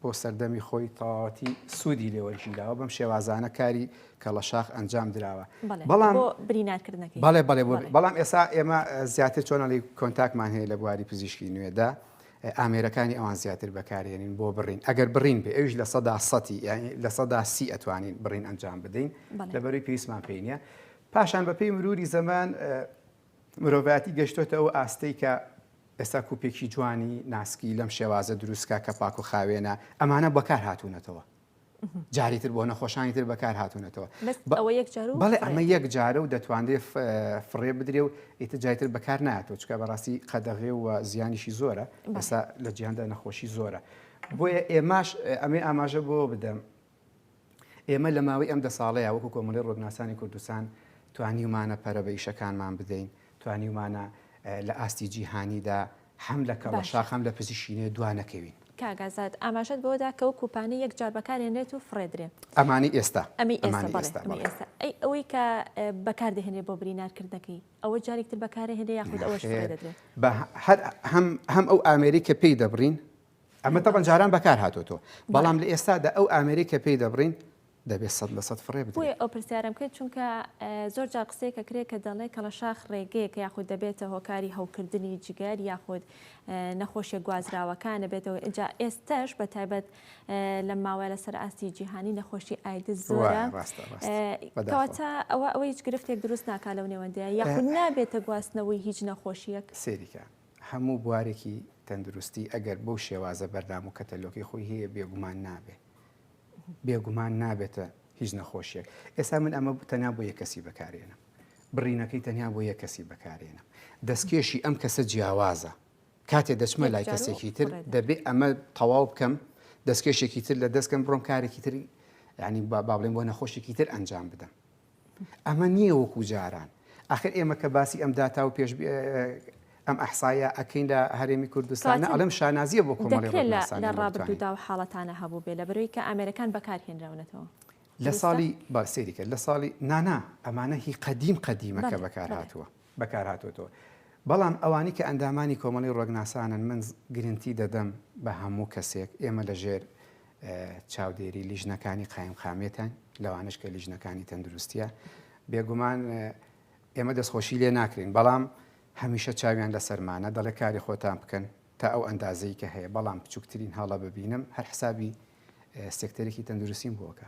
بۆ سەردەمی خۆی تەواوەتی سوودی لێوەرگیراوە بەم شێوازانە کاری کەڵەشاخ ئەنجام دراوە بەڵام بریناکردنەکەی بەڵێ بەڵێ بەڵام ئێسا ئێمە زیاتر چۆنەڵی کۆنتاکمان هەیە لە بواری پزیشکی نوێدا ئامێرەکانی ئەوان زیاتر بەکارێنین بۆ بڕین ئەگەر بڕین بێ ئەوش لە سەدا سەتی لە سەدا سی ئەتوانین بڕین ئەنجام بدەین لەبەروی پێویستمان پێینە پاشان بەپی مروری زەمان مرۆڤایەتی گەشتۆتە ئەو ئاستەی کە ئێستا کوپێکی جوانی ناسکی لەم شێوازە دروستکە کە پاک و خاوێنە ئەمانە بەکار هاتوونەتەوە جاری تر بۆ نەخۆشانی تر بەکار هاتوونەتەوە بەڵێ ئەمە یەک جارە و دەتوانرێت فڕێ بدرێ و ئیتجای تر بەکار ناتەوە چکە بەڕاستی قەدەغێ و زیانیشی زۆرە بەسا لە جیاندا نەخۆشی زۆرە بۆیە ئێماش ئەمێ ئاماژە بۆ بدەم ئێمە لە ماوەی ئەم دە ساڵەیا وەکو کۆمەڵەی ڕوودناسانی کوردستان توانیومانە پەرە بە ئیشەکانمان بدەین، توانیومانە لە ئاستی جیهانیدا هەم لە کەڵەشاخ هەم لە پزیشینێ دوا نەکەوین. کاک ئازاد، ئاماژەت بەوە دا کە وەکو پانی یەک جار بەکار هێنرێت و فڕێدرێ. ئەمانەی ئێستا. ئەمەی ئێستا، بەڵێ ئەمەی ئێستا. ئەی ئەوەی کە بەکار دەهێنرێ بۆ برینار کردنەکەی، ئەوە جارێک تر بەکار ئەهێنرێ یاخود ئەوەش فڕێ دەدرێ؟ نەخێر، بە هەر هەم ئەو ئامێرەی کە پێی دەبڕین، ئەمە تەبەن جاران بەکار هاتۆتەوە بەڵام لە ئێستادا ئەو ئامێرەی کە پێی دەبڕین دەبێت سەد لە سەد فڕێ بدرێت. بۆیە ئەو پرسیارم کرد چونکە زۆر جار قسەیەکە کرێ کە دەڵێ کەڵەشاخ ڕێگەیەکە یاخود دەبێتە هۆکاری هەوکردنی جگەر یاخود نەخۆشیە گوازراوەکانە بێتەوە ئجا ئێستش بە تایبەت لەم ماوەیە لەسەر ئاستی جیهانی نەخۆشی ئایدز زۆرە کەواتە ئەوە ئەوە هیچ گرفتێک دروست ناکا لەو نێوەندەیە یاخود نابێتە گواستنەوەی هیچ نەخۆشیەک سێریکە هەموو بوارێکی تەندروستی ئەگەر بەو شێوازە بەردام و کەتەلۆکی خۆی هەیە بێگومان نابێ بێگومان نابێتە هیچ نەخۆشیەک ئێستا من ئەمە تەنیا بۆ یە کەسی بەکارێنم بڕینەکەی تەنیا بۆ یە کەسی بەکارێنم دەستکێشی ئەم کەسە جیاوازە کاتێ دەچمە لای کەسێکی تر دەبێ ئەمە تەواو بکەم دەستکێشێکی تر لە دەستکەم بڕۆم کارێکی تری ینی با بابلێن بۆ نەخۆشێکی تر ئەنجام بدەم ئەمە نییە وەکو جاران ئاخر ئێمە کە باسی ئەم داتا و پێش ئەم ئەحسایە ئەکەین لە هەرێمی کوردستانە ئەڵم شانازیە بۆ لە ڕابردوودا و حاڵەتانە هەبوو بێ لە بەرەوەی کە ئامێرەکان بەکارهێنراونەتەوە لە ساڵی باسێریکە لە ساڵی نانا ئەمانە هی قەدیم قەدیمەکە بەکار هاتووە بەکارهاتۆتەوە بەڵام ئەوانی کە ئەندامانی کۆمەڵی ڕۆگناسانن من گرنتی دەدەم بە هەموو کەسێک ئێمە لە ژێر چاودێری لیژنەکانی قایم قامێتان لەوانش کە لیژنەکانی تەندروستە بێگومان ئێمە دەستخۆشی لێ ناکرین بەڵام هەمیشە چاویان لە سەرمانە دەڵێ کاری خۆتان بکەن تا ئەو ئەندازەی کە هەیە بەڵام بچووکترین هەڵە ببینم هەر حسابی سێکتەرێکی تەندروستیم بۆکە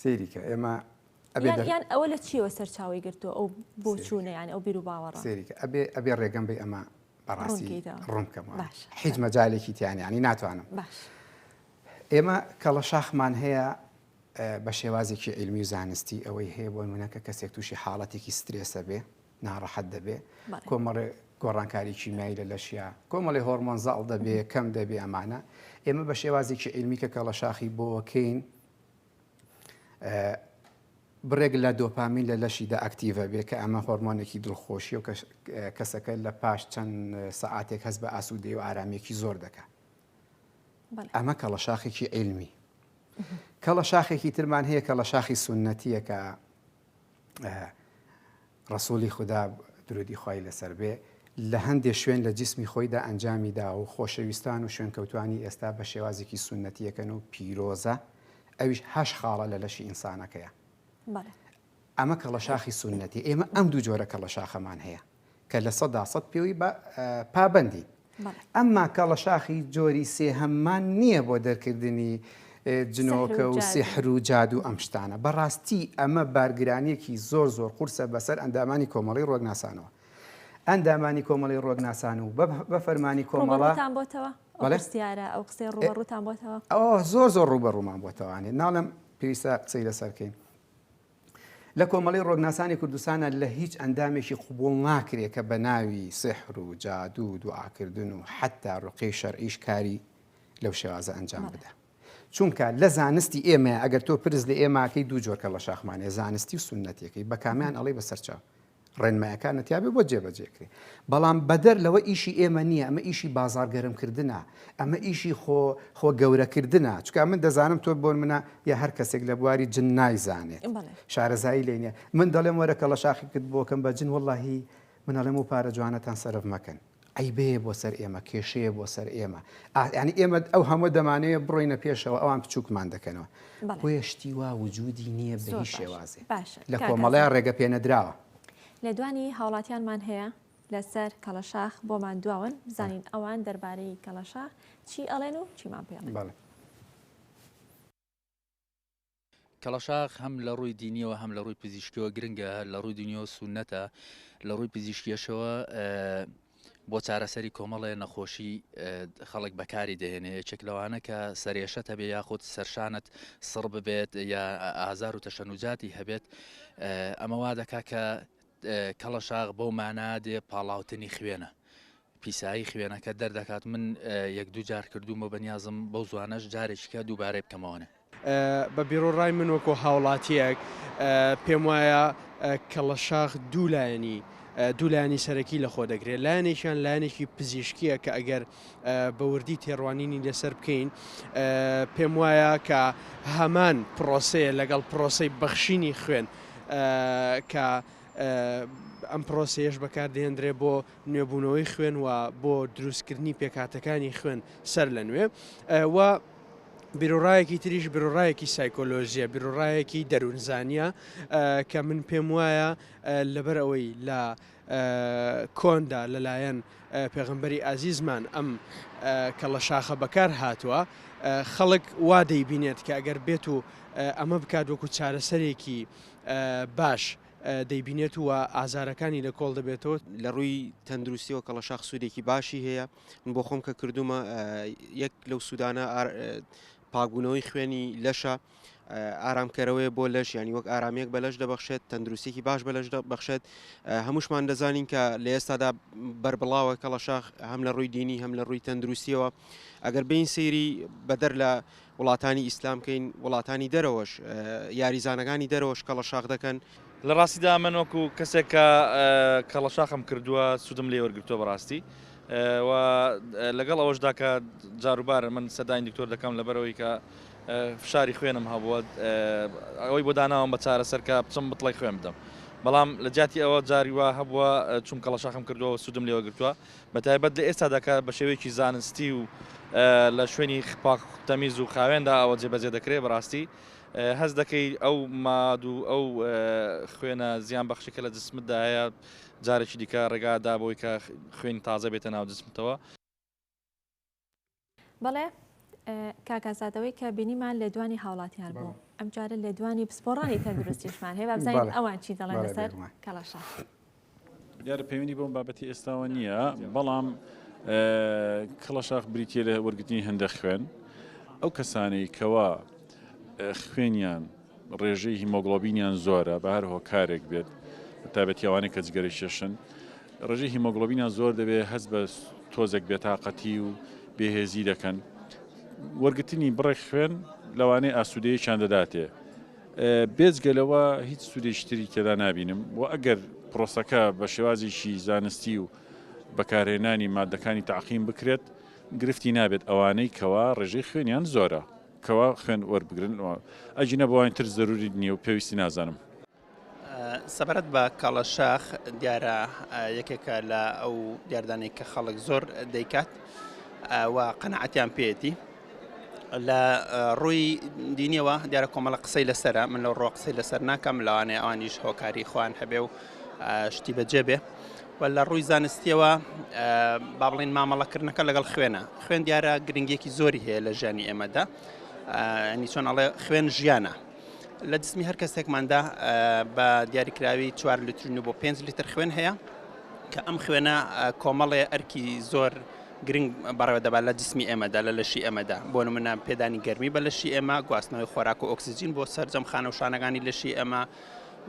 سەیری کە ئێمە یان ئەوە لە چیەوە سەرچاوی گرتو ئەو بۆچوونە یان ئەو بیر و باوەڕ سەیری کە ئەبێ ئەبێ ڕێگەم بێ ئەمە بەڕاستی ڕوونکەم هیچ مەجالێکی تیانیانی ناتوانم ئێمە کەڵە شاخمان هەیە بە شێوازێکی علمی و زانستی ئەوەی هەیە بۆی منەکە کەسێک تووشی حاڵەتێکی سترێسە بێ ناڕەحەت دەبێ کۆمەڵێ گۆڕانکاری کیمیایی لە لەشیا کۆمەڵی هۆرمۆن زاڵ دەبێ کەم دەبێ ئەمانە ئێمە بە شێوازێکی علمی کە کەڵە شاخی بۆکەین بڕێک لە دۆپامین لە لەشیدا ئەکتیڤە بێت کە ئەمە هۆرمۆنێکی دڵخۆشیە و کەسەکە لە پاش چەند سەعاتێک هەست بە ئاسوودەی و ئارامێکی زۆر دەکات ئەمە کەڵە شاخێکی علمی کەڵە شاخێکی ترمان هەیە کە لە شاخی سنەتیەکە ڕەسووڵی خودا، درودی خوای لەسەر بێ، لە هەندێ شوێن لە جیسمی خۆیدا ئەنجامی داوە و خۆشەویستان و شوێنکەوتوانی ئێستا بە شێوازێکی سوننەتییەکەن و پیرۆزە، ئەویش هەشت خاڵە لە لەشی ئینسانەکەیە. ئەمە کەڵەشاخی سوننەتییە. ئێمە ئەم دوو جۆرە کەڵەشاخەمان هەیە کە لە سەدا سەد پێوەی پابەندین. ئەم ماکە ڵەشاخی جۆری سێهەم مان نیە بۆ دەرکردنی جنۆکە و سیحر و جاد و ئەم شتانە بە ڕاستی ئەمە بارگرانیەکی زۆر زۆر قورسە بەسەر ئەندامانی کۆمەڵی ڕۆگناسانەوە ئەندامانی کۆمەڵی ڕۆگناسان و بە فەرمانی کۆمەڵتان بۆتەوە بەستیارە ئەو قسەی ڕوبەڕوتان بۆتەوە ئەو زۆر زۆر ڕوبەڕومان بۆتەوانێت ناڵم پێویستە قسەی لەسەرکەین لە کۆمەڵەی ڕۆگناسانی کوردستانا لە هیچ ئەندامێکی قبوڵ ناکرێ کە بە ناوی سحر و جادوو و دوعاکردن و حەتتا ڕوقیەی شەرعیش کاری لەو شێوازە ئەنجام بدا. چونکا لە زانستی ئێمەیا ئەگەر تۆ پرس لە ئێماکەی دوو جۆر کەڵەشاخمان هەیە زانستی و سوننەتیەکەی بە کامیان ئەڵێی بە سەرچاو؟ ڕێنمایەکانە تیابێ بۆ جێبەجێکرێ بەڵام بەدەر لەوە ئیشی ئێمە نییە ئەمە ئیشی بازار گەرمکردە ئەمە ئیشی خۆ خۆ گەورەکردە چکە من دەزانم تۆ بۆن منە یا هەر کەسێک لە بواری جن نایزانێت شارەزایی لێنە من دەڵێم وەرەکە لە شاخیکرد بۆکەم بە جن واللهی منەڵێم و پارە جوانەتان سەرف مەکەن عەیبەیە بۆ سەر ئێمە، کێشەیە بۆ سەر ئێمە. ئا یانی ئێمە ئەو هەمووە دەمانەوێ بڕۆینە پێشەوە ئەوان پچووکمان دەکەنەوە. بەڵێ. بۆیە شتی وا وجودی نییە بە زۆر هیچ باشە. شێوازێ. باشە لە کاک کۆمەڵە ئازاد. ڕێگە پێ نەدراوە. لێدوانی هاوڵاتیانمان هەیە لەسەر کەڵەشاخ بۆمان دواون بزانین ئەوان دەربارەی کەڵەشاخ چی ئەڵێن و چیمان پێڵێن. بەڵێ. کەڵەشاخ هەم لە ڕووی دینیەوە هەم لە ڕووی پزیشکیەوە گرنگە هەر لە ڕووی دنیەوە سونەتە لە ڕووی پزیشکیەشەوە بۆ چارەسەری کۆمەڵێ نەخۆشی خەڵک بەکاری دەهێنێ یەکێک لەوانە کە سەرێشت هەبێ یاخود سەرشانت سڕ ببێت یا ئازار و تەشەنوجاتی هەبێت ئەمە وا دەکا کە کەڵەشاخ بەو مانا دێ پاڵاوتنی خوێنە. پیسایی خوێنەکە دەردەکات من یەک دوو جار کردومە بەنیازم بەو زوانەش جارێکیکە دووبارەی بکەمەوەێ. بە بیروڕای من وەکو هاوڵاتیەک پێم وایە کەڵەشاخ دوو لایەنی دوو لایەنی سەرەکی لەخۆ دەگرێت لایەنێکیان لایەنێکی پزیشکیە کە ئەگەر بە وردی تێڕوانینی لەسەر بکەین پێم وایە کە هەمان پرۆسەیە لەگەڵ پرۆسەی بەخشینی خوێن کە ئەم پرۆسەیەش بەکاردێندرێ بۆ نوێبوونەوەی خوێن و بۆ دروستکردنی پێکاتەکانی خوێن سەر لە نوێ و بیرۆڕایەکی تریش برۆڕایەکی سایکۆلۆژیە برۆڕایەکی دەروونزانە کە من پێم وایە لەبەر ئەوەی لە کۆندا لەلایەن پێغەمبەری ئازیزمان ئەم کەڵە شاخە بەکار هاتووە خەڵک وا دەیبینێت کە ئەگەر بێت و ئەمە بکات وەکو چارەسەرێکی باش دەیبینێت و ئازارەکانی لە کۆڵ دەبێتەوە لە ڕووی تەندروستیەوە کەڵە شاخ سوودێکی باشی هەیە من بۆ خۆم کە کردومە یەک لەو سوودانە پاکبوونەوەی خوێنی لەشە، ئارامکەرەوەیە بۆ لەش ینی وەک ئارامیەک بە لەش دەبەخشێت تەندروستێکی باش بە لەش بەخشێت هەمووشمان دەزانین کە لە ئێستادا بربڵاوە کەڵەشاخ هەم لە ڕووی دینی هەم لە ڕووی تەندروستیەوە ئەگەر بین سەیری بەدەر لە وڵاتانی ئیسلامکەین وڵاتانی دەرەوەش یاریزانەکانی دەرەوەش کەڵە شاخ دەکەن لە ڕاستیدا من وەکو کەسێک کە کەڵەشاخم کردووە سوودم لێ وەرگتووە بەڕاستی و لەگەڵ ئەوەشدا کە جاروبارە من سەداین دکتۆر دەکەم لەبەرەوەی کە فشاری خوێنم هەبووە ئەوەی بۆ داناوم بە چارە سەرکە بچم بتڵی خوێن بدەم بەڵام لە جیاتی ئەوە جاریوا هەبووە چون کەڵەشاخم کردووە سوودم لێوە گرتووە بە تایبەت لە ئێستا دەکە بە شێوەیەکی زانستی و لە شوێنی خپاک تەمیز و خاوێندا ئەوە جێبەجێ دەکرێت بەڕاستی هەست دەکەی ئەو ماد و ئەو خوێنە زیان بەخشی کە لە جسمدایە جارێکی دیکە ڕێگا دابەوەی کە خوێنی تازە بێتە ناو جسمتەوە بەڵێ کاکازادەوەی کە بینیمان لێدوانی هاوڵاتیان بوو ئەمجارە لێدوانی پسپۆڕانی تەندروستیشمان هەیە بابزانین ئەوان چی دەڵێن لەسەر کەڵەشە. دیارە پەیوەندی بەم بابەتی ئێستاوە نییە، بەڵام کڵەشاخ بریتیە لە وەرگرتنی هەندە خوێن ئەو کەسانەی کەوا خوێنیان ڕێژەی هیمۆگلۆبینیان زۆرە بە هەر هۆکارێک بێت تابەتیاوانێک کە جگەرە شێشن ڕێژەی هیمۆگلۆبینیان زۆر دەبێت هەست بە تۆزێک بێتاقەتی و بێهێزی دەکەن وەرگتنی بڕێک خوێن لەوانەیە ئاسوودەیەکیان دەداتێ بێجگە لەوە هیچ سوودێکی تری تێدا نابینم و ئەگەر پرۆسەکە بە شێوازێکی زانستی و بەکارهێنانی ماددەکانی تەعقیم بکرێت گرفتی نابێت ئەوانەی کەوا ڕێژەی خوێنیان زۆرە کەوا خوێن وەربگرن ئەگینە بەوانی تر زەروری نییە و پێویستی نازانم. سەبارەت بە کاڵە شاخ دیارە یەکێکە لە ئەو دیاردانەی کە خەڵک زۆر دەیکات و قەنەعەتیان پێیەتی لە ڕووی دینیەوە دیارە کۆمەڵە قسەی لەسەرە من لەو ڕۆ قسەی لەسەر ناکەم لەوانێ ئەوانیش هۆکاری خۆیان هەبێ و شتی بەجێ بێ و لە ڕووی زانستیەوە با بڵین مامەڵەکردنەکە لەگەڵ خوێنە خوێن دیارە گرنگێکی زۆری هەیە لە ژیانی ئێمەدا ئەنی چۆن ئەڵێ خوێن ژیانە لە جسمی هەر کەسێکماندا بە دیاریکراوی چوار لترین و بۆ پێنج لتر خوێن هەیە کە ئەم خوێنە کۆمەڵێ ئەرکی زۆر گرنگ بەڕێوە دەبات لە جسمی ئێمەدا، لە لەشی ئێمەدا، بۆ نمونە پێدانی گەرمی بە لەشی ئێمە، گواستنەوەی خۆراک و ئۆکسجین بۆ سەرجەم خانە و شانەکانی لەشی ئێمە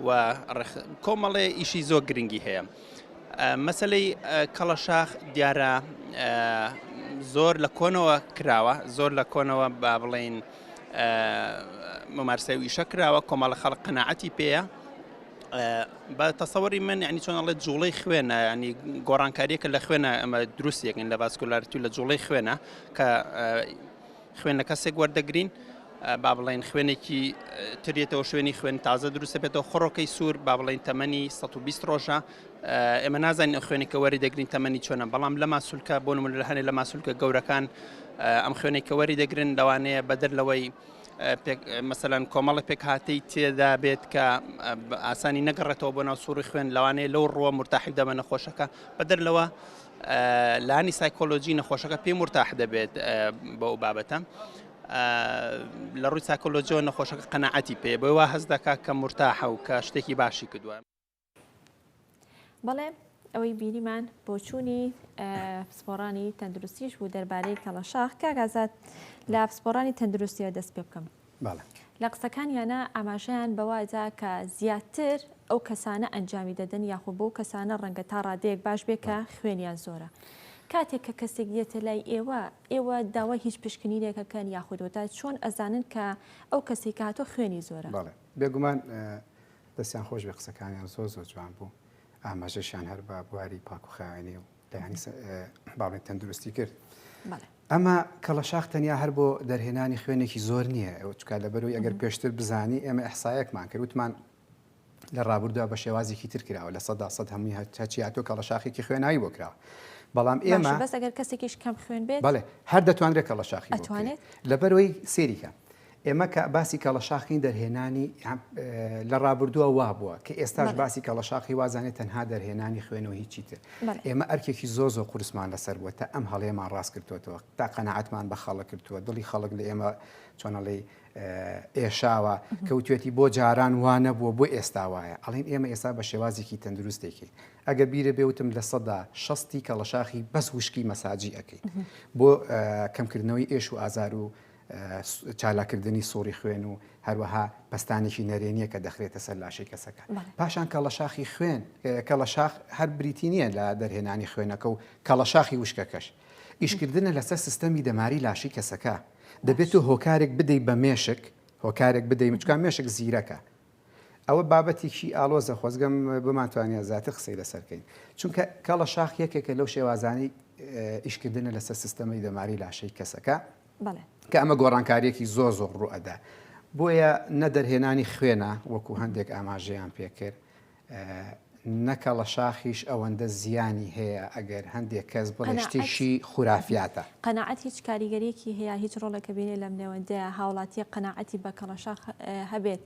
و ڕێخ کۆمەڵێ ئیشی زۆر گرنگی هەیە. مەسەلەی کەڵەشاخ دیارە زۆر لە کۆنەوە کراوە، زۆر لە کۆنەوە با بڵێین ممارسەویشە کراوە کۆمەڵە خەڵق قەنەعەتی پێیە، بە تەسەوەری من ینی چۆن ئەڵێت جوڵەی خوێنە ینی گۆڕانکاریەکە لە خوێنە ئەمە دروست یەکن لە ڤاسکولارتی و لە جوڵەی خوێنە کە خوێنە کەسێک وەردەگرین با بڵێن خوێنێکی ترێتەوە شوێنی خوێن تازە دروستە بێتەوە خڕۆکەی سوور با بڵین تەمەنی 120 ڕۆژە ئێمە نازانین ئە خوێنێکە وەری دەگرین تەمەنی چۆنە بەڵام لە ماسولکە بۆ من لە هەنێ لە ماسولکە گەورەکان ئەم خوێنێکە وەری دەگرن لەوانەیە بەدەر لەوەی مەسەلەن کۆمەڵە پێکهاتەی تێدا بێت کە ئاسانی نەگەڕێتەوە بۆ ناو سوڕی خوێن لەوانەیە لەو ڕووە مرتاحی دەبە نەخۆشەکە بەدەر لەوە لانی سایکۆلۆژی نەخۆشەکە پێی مرتاح دەبێت بەو بابەتە. لە ڕووی ساکۆلۆجیەوە نەخۆشەکە قەنەعەتی پێ بۆی وا هەز دەکات کە مرتاحە و کە شتێکی باشی کردووە. بەڵێ ئەوەی بینیمان بۆچوونی پسپۆڕانی تەندروستیش بوو دەربارەی کەڵەشاخ کاگازات لە پسپۆڕانی تەندروستیەوە دەست پێ بکەم لە قسەکانیانە ئاماژەیان بەوادا کە زیاتر ئەو کەسانە ئەنجامی دەدەن یاخۆ بۆ کەسانە ڕەنگە تا ڕادەیەک باش بێ کە خوێنیان زۆرە. کاتێک کە کەسێک دێتە لای ئێوە ئێوە داوای هیچ پشکنینێکەکەن یاخودۆتا چۆن ئەزانن کە ئەو کەسێک هاتۆ خوێنی زۆرە بێگومان دەستیان خۆش بێ قسەکانیان زۆر زۆر جوان بوو ئاماژەشیان هەر بە بواری پاکوخاوێنی و دەیانی باڵێن تەندروستی کرد ئەمە کەڵەشاخ تەنیا هەر بۆ دەرهێنانی خوێنێکی زۆر نییە ئەو چکا لە بەرەوەی ئەگەر پێشتر بزانی ئێمە ئەحسایەکمان کرد وتمان لە ڕابردووە بە شێوازێکی تر کراوە لە سەدا سەد هەمووی هەچیاتۆ کە ڕەشاخێکی خوێنایی بۆ کراوە بەڵام ئێمە بەس ئەگەر کەسێکیش کەم خوێن بێت بەڵێ هەر دەتوانرێت کە ڕەشاخی لەبەرەوەی سێریکە ئێمە کە باسی کەڵەشاخی دەرهێنانی لە ڕابردووە وابووە کە ئێستاش باسی کەڵەشاخی وازانێت تەنها دەرهێنانی خوێنەوە هیچی تر ئێمە ئەرکێکی زۆ زۆ قورسمان لەسەر بووە تا ئەم هەڵێمان ڕاست کردوەوە تا قەنەعاتمان بە خەڵک کردووە دڵی خەڵک لە ئێمە چۆنەڵی ئێشاوە کەوتێتی بۆ جاران وانە بووە بۆ ئێستا وایە ئەڵین ئێمە ئێستا بە شێوازێکی تەندروستێکی ئەگە بیرە بێوتم لە سەدا شەستی کەڵەشاخی بەس وشکی مەساجی ئەەکەیت بۆ کەمکردنەوەی ئێش و ئازار و چالاککردنی سوڕی خوێن و هەروەها پەستانێکی نەرێنییە کە دەخرێتە سەر لاشەی کەسەکە. پاشان کەڵەشاخی خوێن، کەڵەشاخ هەر بریتی نییە لە دەرهێنانی خوێنەکە و کەڵەشاخی وشکەکەش ئیشکردنە لەسەر سیستەمی دەماری لاشەی کەسەکە. دەبێت تۆ هۆکارێک بدەیت بە مێشک، هۆکارێک بدەیت، چونکە مێشک زیرەکە. ئەوە بابەتێکی ئاڵۆزە، خۆزگەم بمانتوانییە زیاتر قسەی لەسەر بکەین. چونکە کەڵەشاخ یەکێکە لەو شێوازانەی ئیشکردنە لەسەر سیستەمی دەماری لاشەی کەسەکە. بەڵێ. کە ئەمە گۆڕانکارییەکی زۆر زۆر ڕوو ئەدا. بۆیە نە دەرهێنانی خوێنە وەکوو هەندێک ئاماژەیان پێ کرد، نە کەڵەشاخیش ئەوەندە زیانی هەیە ئەگەر هەندێک کەس بڵێ شتێکی خورافیاتە. قەناعەت هیچ کاریگەرییەکی هەیە؟ هیچ ڕۆڵێک بینێ لەم نێوەندەیا هاوڵاتییەک قەناعەتی بە کەڵەشاخ هەبێت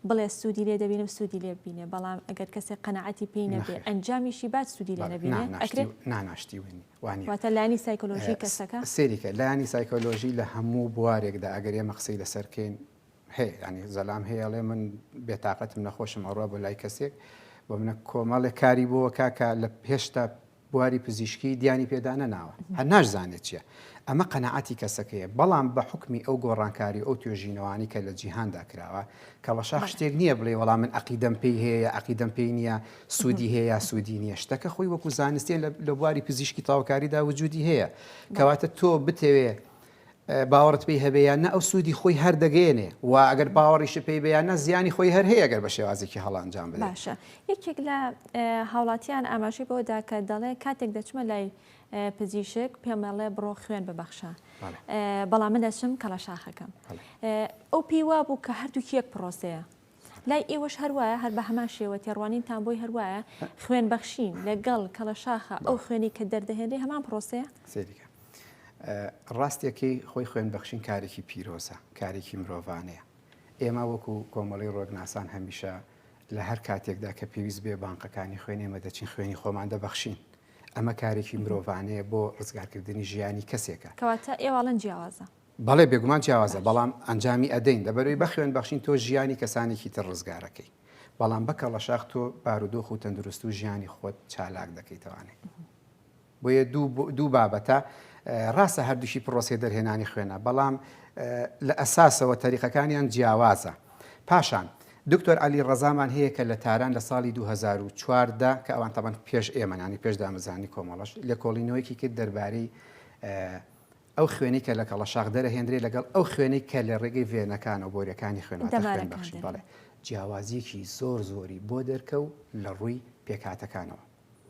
بڵێ سوودی لێ دەبینم سوودی لێ ببینێ بەڵام ئەگەر کەسێک قەناعەتی پێی نەبێ ئەنجامیشی بات سوودی لێ نەبینێ ئەکرێ؟ نا ناشتیوە نی. وانیە. واتە لانی سایکۆلۆژی کەسەکە؟ سەیری کە لانی سایکۆلۆژی لە هەموو بوارێکدا ئەگەر ئێمە قسەی لەسەر کەین هەیە یانی زەلام هەیە ئەڵێ من بێتاقەتم نەخۆشم ئەڕوا بۆ لای کەسێک بۆ منە کۆمەڵێک کاری بۆوە کاکە لە هێشتا بواری پزیشکی دیانی پێدا نەناوە هەر ناشزانێت چییە ئەمە قەنەعاتی کەسەکەیە بەڵام بە حکمی ئەو گۆڕانکاری ئەو توێژینەوانی کە لە جیهاندا کراوە کەڵەشاخ شتێک نییە بڵێ وەڵام من عقیدەم پێی هەیە عقیدەم پێی نییە سوودی هەیە یا سوودی نییە، شتەکە خۆی وەکو زانستیە لە بواری پزیشکی تاوکاریدا وجودی هەیە کەواتە تۆ بتەوێ باوەڕت پێی هەبێیان نە ئەو سوودی خۆی هەردەگەێنێ و ئەگەر باوەڕیش پێی بەیانە زیانی خۆی هەر هەیە گەر بە شێوازێکی هەڵانجام باشە یەکێک لە هاوڵاتیان ئاماژەی بۆدا کە دەڵێ کاتێک دەچمە لای پزیشک پێمەڵێ بڕۆ خوێن ببەخشە بەڵام من دەچم کەڵە شاخەکەم ئەو پێی وا بوو کە هەردووک یەک پرۆسەیە لای ئێوەش هەر وایە هەر بە هەمان شێوە تێڕوانینتان بۆی هەر وایە خوێن بەخشین لەگەڵ کەڵەشاخە ئەو خوێنی کە دەردەهێنرێ هەمان پرۆسەیە سێریکە ڕاستیەکەی خۆی خوێن بەخشین کارێکی پیرۆزە کارێکی مرۆڤانەیە ئێمە وەکو کۆمەڵی ڕۆگناسان هەمیشە لە هەر کاتێکدا کە پێویست بێ بانقەکانی خوێن ئێمە دەچین خوێنی خۆمان دەبەخشین ئەمە کارێکی مرۆڤانەیە بۆ ڕزگارکردنی ژیانی کەسێکە کەواتە ئێواڵەن جیاوازە بەڵێ بێگومان جیاوازە بەڵام ئەنجامی ئەدەین لەبەروی بەخوێن بەخشین تۆ ژیانی کەسانێکی تر ڕزگارەکەی بەڵام بە کەڵەشاخ تۆ بارودۆخ و تەندروست و ژیانی خۆت چالاک دەکەیتەوانێ بۆیە دوو بابەتە ڕاستە هەردووشی پرۆسی دەرهێنانی خوێنە بەڵام لە ئەساسەوە تەریقەکانیان جیاوازە پاشان دکتۆر علی ڕزامان هەیە کە لە تاران لە ساڵی 2014دا کە ئەوان تەبەن پێش ئێمەنانی پێش دامەزانی کۆمەڵش لێکۆڵینەوەیکی کرد دەربارەی ئەو خوێنەی کە لە کەڵەشاخ دەرەهێندرێ لەگەڵ ئەو خوێنەی کە لە ڕێگەی ڤێنەکانەوە بۆریەکانی خوێنواتە خوێن بەخشین بەڵێ جیاوازیەکی زۆر زۆری بۆ دەرکەو لە ڕووی پێکهاتەکانەوە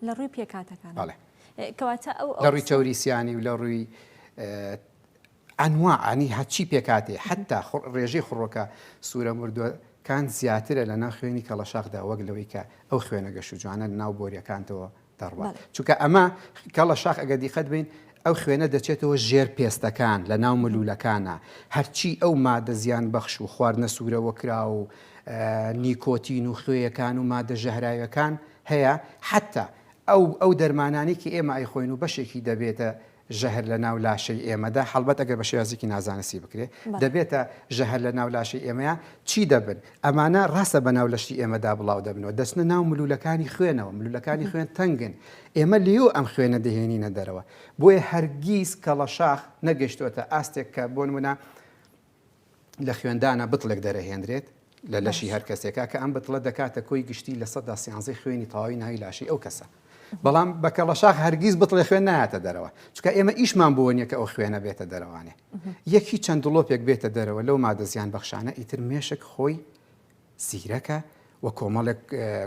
لە ڕووی پێکاتەکان بەڵێ کەواتە ئەو لە ڕووی تەوریسیانی و لە ڕووی ئەنوا ئەنی هەچی پێکاتی حتا ڕێژەی خڕۆکە سوورە مردووە کان زیاترە لە ناو خوێنی کەڵەشاخدا وەک لەوەی کە ئەو خوێنە گەش و جوانە ناو بۆریەکانتەوە دەڕوات چونکە ئەمە کەڵە شاخ ئەگەر دیقەت بین ئەو خوێنە دەچێتەوە ژێر پێستەکان لە ناو ملوولەکانە هەرچی ئەو مادە زیان بەخش و خواردنە سوورەوە کرا و نیکۆتین و خوێیەکان و مادە ژەهراوەکان هەیە حتا ئەو ئەو دەرمانانی کە ئێمە ئەیخۆین و بەشێکی دەبێتە ژەهر لە ناو لاشەی ئێمەدا، هەڵبەت ئەگەر بە شێوازێکی نازانستی بکرێ، دەبێتە ژەهر لە ناو لاشەی ئێمەیا، چی دەبن؟ ئەمانە ڕاستە بە ناو لەشتی ئێمەدا بڵاو دەبنەوە، دەچنە ناو ملوولەکانی خوێنەوە، ملوولەکانی خوێن تەنگن، ئێمە لێیەوە ئەم خوێنە دەهێنینە دەرەوە، بۆیە هەرگیز کەڵەشاخ نەگەیشتۆتە ئاستێک کە بۆ نموونە لە خوێندانا بتڵێک دەرەهێنرێت لە لەشی هەر کەسێکا کە ئەم بتڵە دەکاتە کۆی گشتی لە سەدا سیانزەی خوێنی تەواوی ناوی لاشەی ئەو کەسە بەڵام بە کەڵەشاخ هەرگیز بتڵێ خوێن نایاتە دەرەوە چکە ئێمە ئیشمان بۆ نیە کە ئەو خوێنە بێتە دەرەوانێ یەکی چەند دڵۆپێک بێتە دەرەوە لەو مادە زیان بەخشانە ئیتر مێشک خۆی زیرەکە و کۆمەڵێک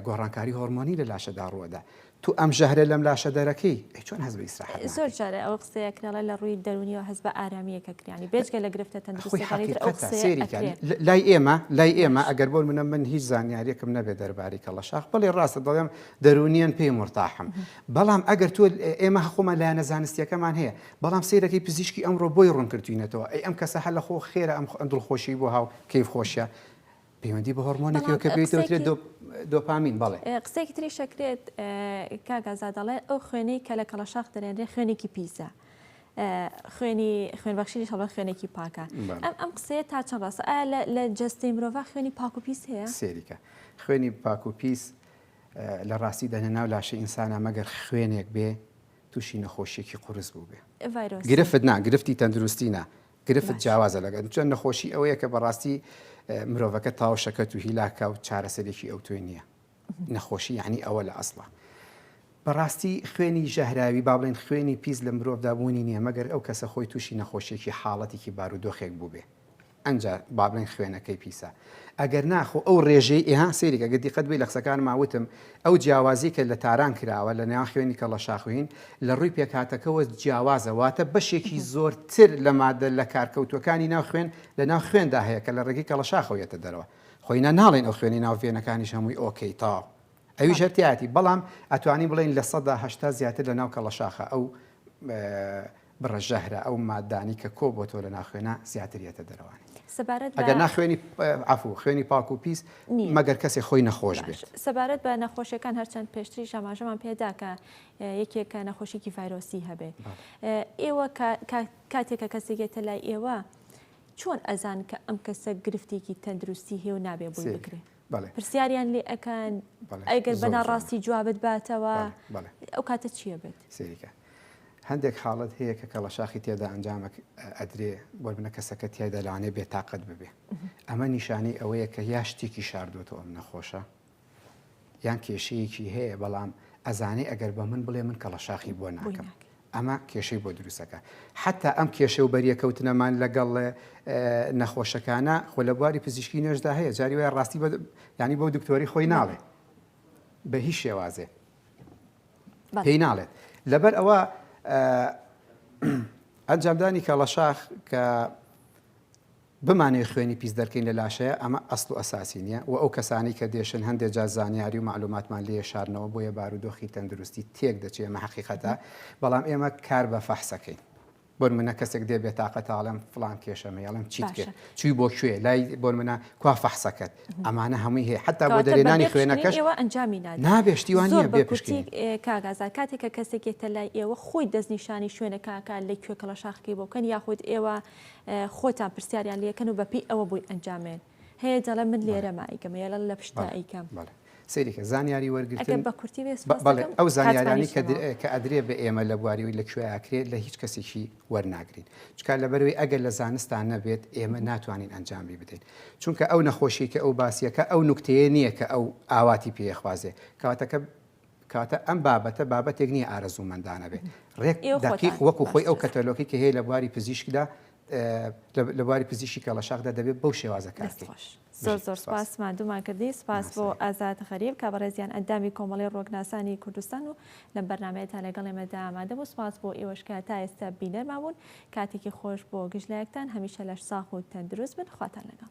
گۆڕانکاری هۆرمۆنی لە لاشەدا ڕووەدا تو ئەم ژەهرە لەم لاشە دەرەکەی ئەی چۆن هەست بە ئیسراحەت ناکەی؟ زۆر جارێ ئەو قسەیە کرێ لە ڕووی دەرونیەوە هەست بە ئارامیەکە کریانی بێجگە لە گرفتە تەندروستەکانی تر ئەو قسەیە ئەکرێ لای ئێمە لای ئێمە ئەگەر بۆ منە من هیچ زانیاریەکم نەبێ دەربارەی کەڵە شاخ بەڵێ ڕاستە دەڵێم دەرونیەن پێی مورتاحم بەڵام ئەگەر تۆ ئێمە هەخۆمان لایەنە زانستیەکەمان هەیە بەڵام سەیرەکەی پزیشکی ئەمڕۆ بۆی ڕوون کردوینەتەوە ئەی ئەم کەسە هەلە خۆ خێرە ئەم دڵخۆشی بۆ هاو کەیف خۆشیە پەیوەندی بە هۆرمۆنێک کە پێیترێت دۆپامین بەڵێ قسێکی تری شەکرێت کاگازا دەڵێ ئەو خوێنی کە لە کەڵەشاخ دەرێنرێ خوێنێکی پیسە. خوێنی خوێنبەخشی هەڵە خوێنێکی پاکە ئەم ئەم قسەیە تا چەند ڕاستە ئایا لە جستەی مرۆڤ خوێنی پاک و پیس هەیە سێریکە خوێنی پاک و پیس لە ڕاستی دەنە ناو لاشە ئینسانە مەگەر خوێنێک بێ تووشی نەخۆشیێکی قرس بوو بێ گرفت نا گرفتی تەندروستینە گرفت جیاوازە لەگەڵ چۆن نەخۆشی ئەوەیە کە بەڕاستی مرۆڤەکە تاو شەکەت و هیلاکە و چارەسەرێکی ئەو توێ نییە نەخۆشی یعنی ئەوە لە ئەسڵە بەڕاستی خوێنی ژەهراوی با بڵێن خوێنی پیس لە مرۆڤدا بوونی نییە مەگەر ئەو کەسە خۆی تووشی نەخۆشیێکی حاڵەتێکی بارودۆخێک بووبێ ئەجا با بڵێن خوێنەکەی پیسە ئەگەر نا خۆ ئەو ڕێژەی ئێ ها سەیرکە گەر دیقەت بی لە قسەکانما وتم ئەو جیاوازی کە لە تاران کراوە لە نێوان خوێنی کەڵەشاخوین لە ڕووی پێکهاتەکەوە جیاوازە واتە بەشێکی زۆرتر لە مادە لە کارکەوتووەکانی ناو خوێن لە ناو خوێندا هەیە کە لە ڕێگەی کەڵەشاخەوە یەتە دەرەوە خۆ ئینا ناڵێین ئەو خوێنی ناو ڤێنەکانیش هەمووی ئۆکەی تاو ئەویش هەر تیایەتی بەڵام ئەتوانین بڵێین لە سەدا هەشتا زیاتر لە ناو کەڵەشاخە ئەو بڕە ژەهرە ئەو ماددانەی کە کۆ بۆتەوە لە ناخوێنە زیاتر یەتە دەرەوانی. سەبارەت بە ئەگەر نا خوێنی عەفوو خوێنی پاک و پیس نییە. مەگەر کەسێ خۆی نەخۆش بێت. باش سەبارەت بە نەخۆشیەکان هەرچەند پێشتریش ئاماژەمان پێ دا کە یەکێکە نەخۆشیکی ڤایرۆسی هەبێ ئێوە کاتێک کە کەسێک یەتە لای ئێوە چۆن ئەزان کە ئەم کەسە گرفتێکی تەندروستی هێو نابێ بووی بکرێت. بەڵێ پرسیاریان لێ ئەکەن بەڵێ ئەگەر زۆر بەنا جوان. ڕاستی جوابت باتەوە بەڵێ بەڵێ ئەو کاتە چییە بێت سەیریکە هەندێک حاڵەت هەیە کە کەڵەشاخی تێدا ئەنجامەک ئەدرێ بۆ بنە کەسەکە تیایدا لەوانەیە بێتاقەت ببێ ئەمە نیشانەی ئەوەیە کە یا شتێکی شاردووەتەوە ئەم نەخۆشە یان کێشەیەکی هەیە بەڵام ئەزانێ ئەگەر بە من بڵێ من کەڵەشاخی بۆ بۆی ناکەم ناکەی ئەمە کێشەی بۆ دروست دەکات. حەتتا ئەم کێشە و بەریەکەوتنەمان لەگەڵ نەخۆشەکانە، خۆ لە بواری پزیشکی نوێژدا هەیە، جاری وایە ڕاستی بە یانی بۆ دکتۆری خۆی ناڵێ. بە هیچ شێوازێ. پێی ناڵێت. لەبەر ئەوە ئەنجامدانی کەڵەشاخ کە بمانەوێ خوێنی پیس دەرکەین لە لاشەیە ئەمە ئەسڵ و ئەساسی نیە وە ئەو کەسانەی کە دێشن هەندێ جار زانیاری و مەعلوماتمان لێ شارنەوە بۆیە بارودۆخی تەندروستی تێک دەچێ ئەمە حەقیقەتە بەڵام ئێمە کار بە فەحس ئەکەین بۆنمونە کەسێک دێ بێتاقەتە ئەڵێم فڵان کێشەم هەیە ئەڵێم چیت کرد چوی بۆ کوێ لای بۆنمونە کوا فەحسەکەت ئەمانە هەمووی هەیە حتا بۆ دەرێنانی خوێنەکەش ئێوە ئەنجامی نابێ شتیوان نیە بێ پشکی کاگازار کاتێکە کەسێک یەتە لای ئێوە خۆی دەستنیشانی شوێنەکەکە لە کوێ کەڵەشاخەکەی بۆکەن یاخود ئێوە خۆتان پرسیاریان لەکەن و بەپی ئەوە بۆی ئەنجامێن هەیە دەڵێ من لێرە مایکەم یە لە پشتا ئەیکەم سریکە زانیاری وەرگتن بە کورتی ئەو زانیارانی کە ئەدرێ بە ئێمە لە بواریەوەی لە کوێیاکرێت لە هیچ کەسێکی وەرناگرین چکار لە بەروی ئەگەر لە زانستان نەبێت ئێمە ناتوانین ئەنجامی بدەین چونکە ئەو نەخۆشی کە ئەو باسیەکە ئەو نکتەیە نییە کە ئەو ئاواتی پێخوازێ کەواتەکە کاتە ئەم بابەتە بابەتێک نییە ئارەزوومەندانە بێت، ڕێک دەقیق وەکو خۆی ئەو کەتەلۆکی کە هەیە لە بواری پزیشکدا لە بواری پزیشکی کەڵەشاخدا دەبێت بەو شێوازە کار بکەین. زۆر زۆر سوپاس ماندوومان کردی، سوپاس بۆ ئازاد غەریب کە بەڕێزیان ئەندامی کۆمەڵەی ڕوەکناسانی کوردستان و لەم بەرنامەیەتا لەگەڵ ئێمەدا ئامادە بوو، سوپاس بۆ ئێوەش کە تا ئێستا بینەرمان بوون، کاتێکی خۆش بۆ گشت لایەکتان، هەمیشە لەشساغ و تەندروست بن، خواتان لەگەڵ.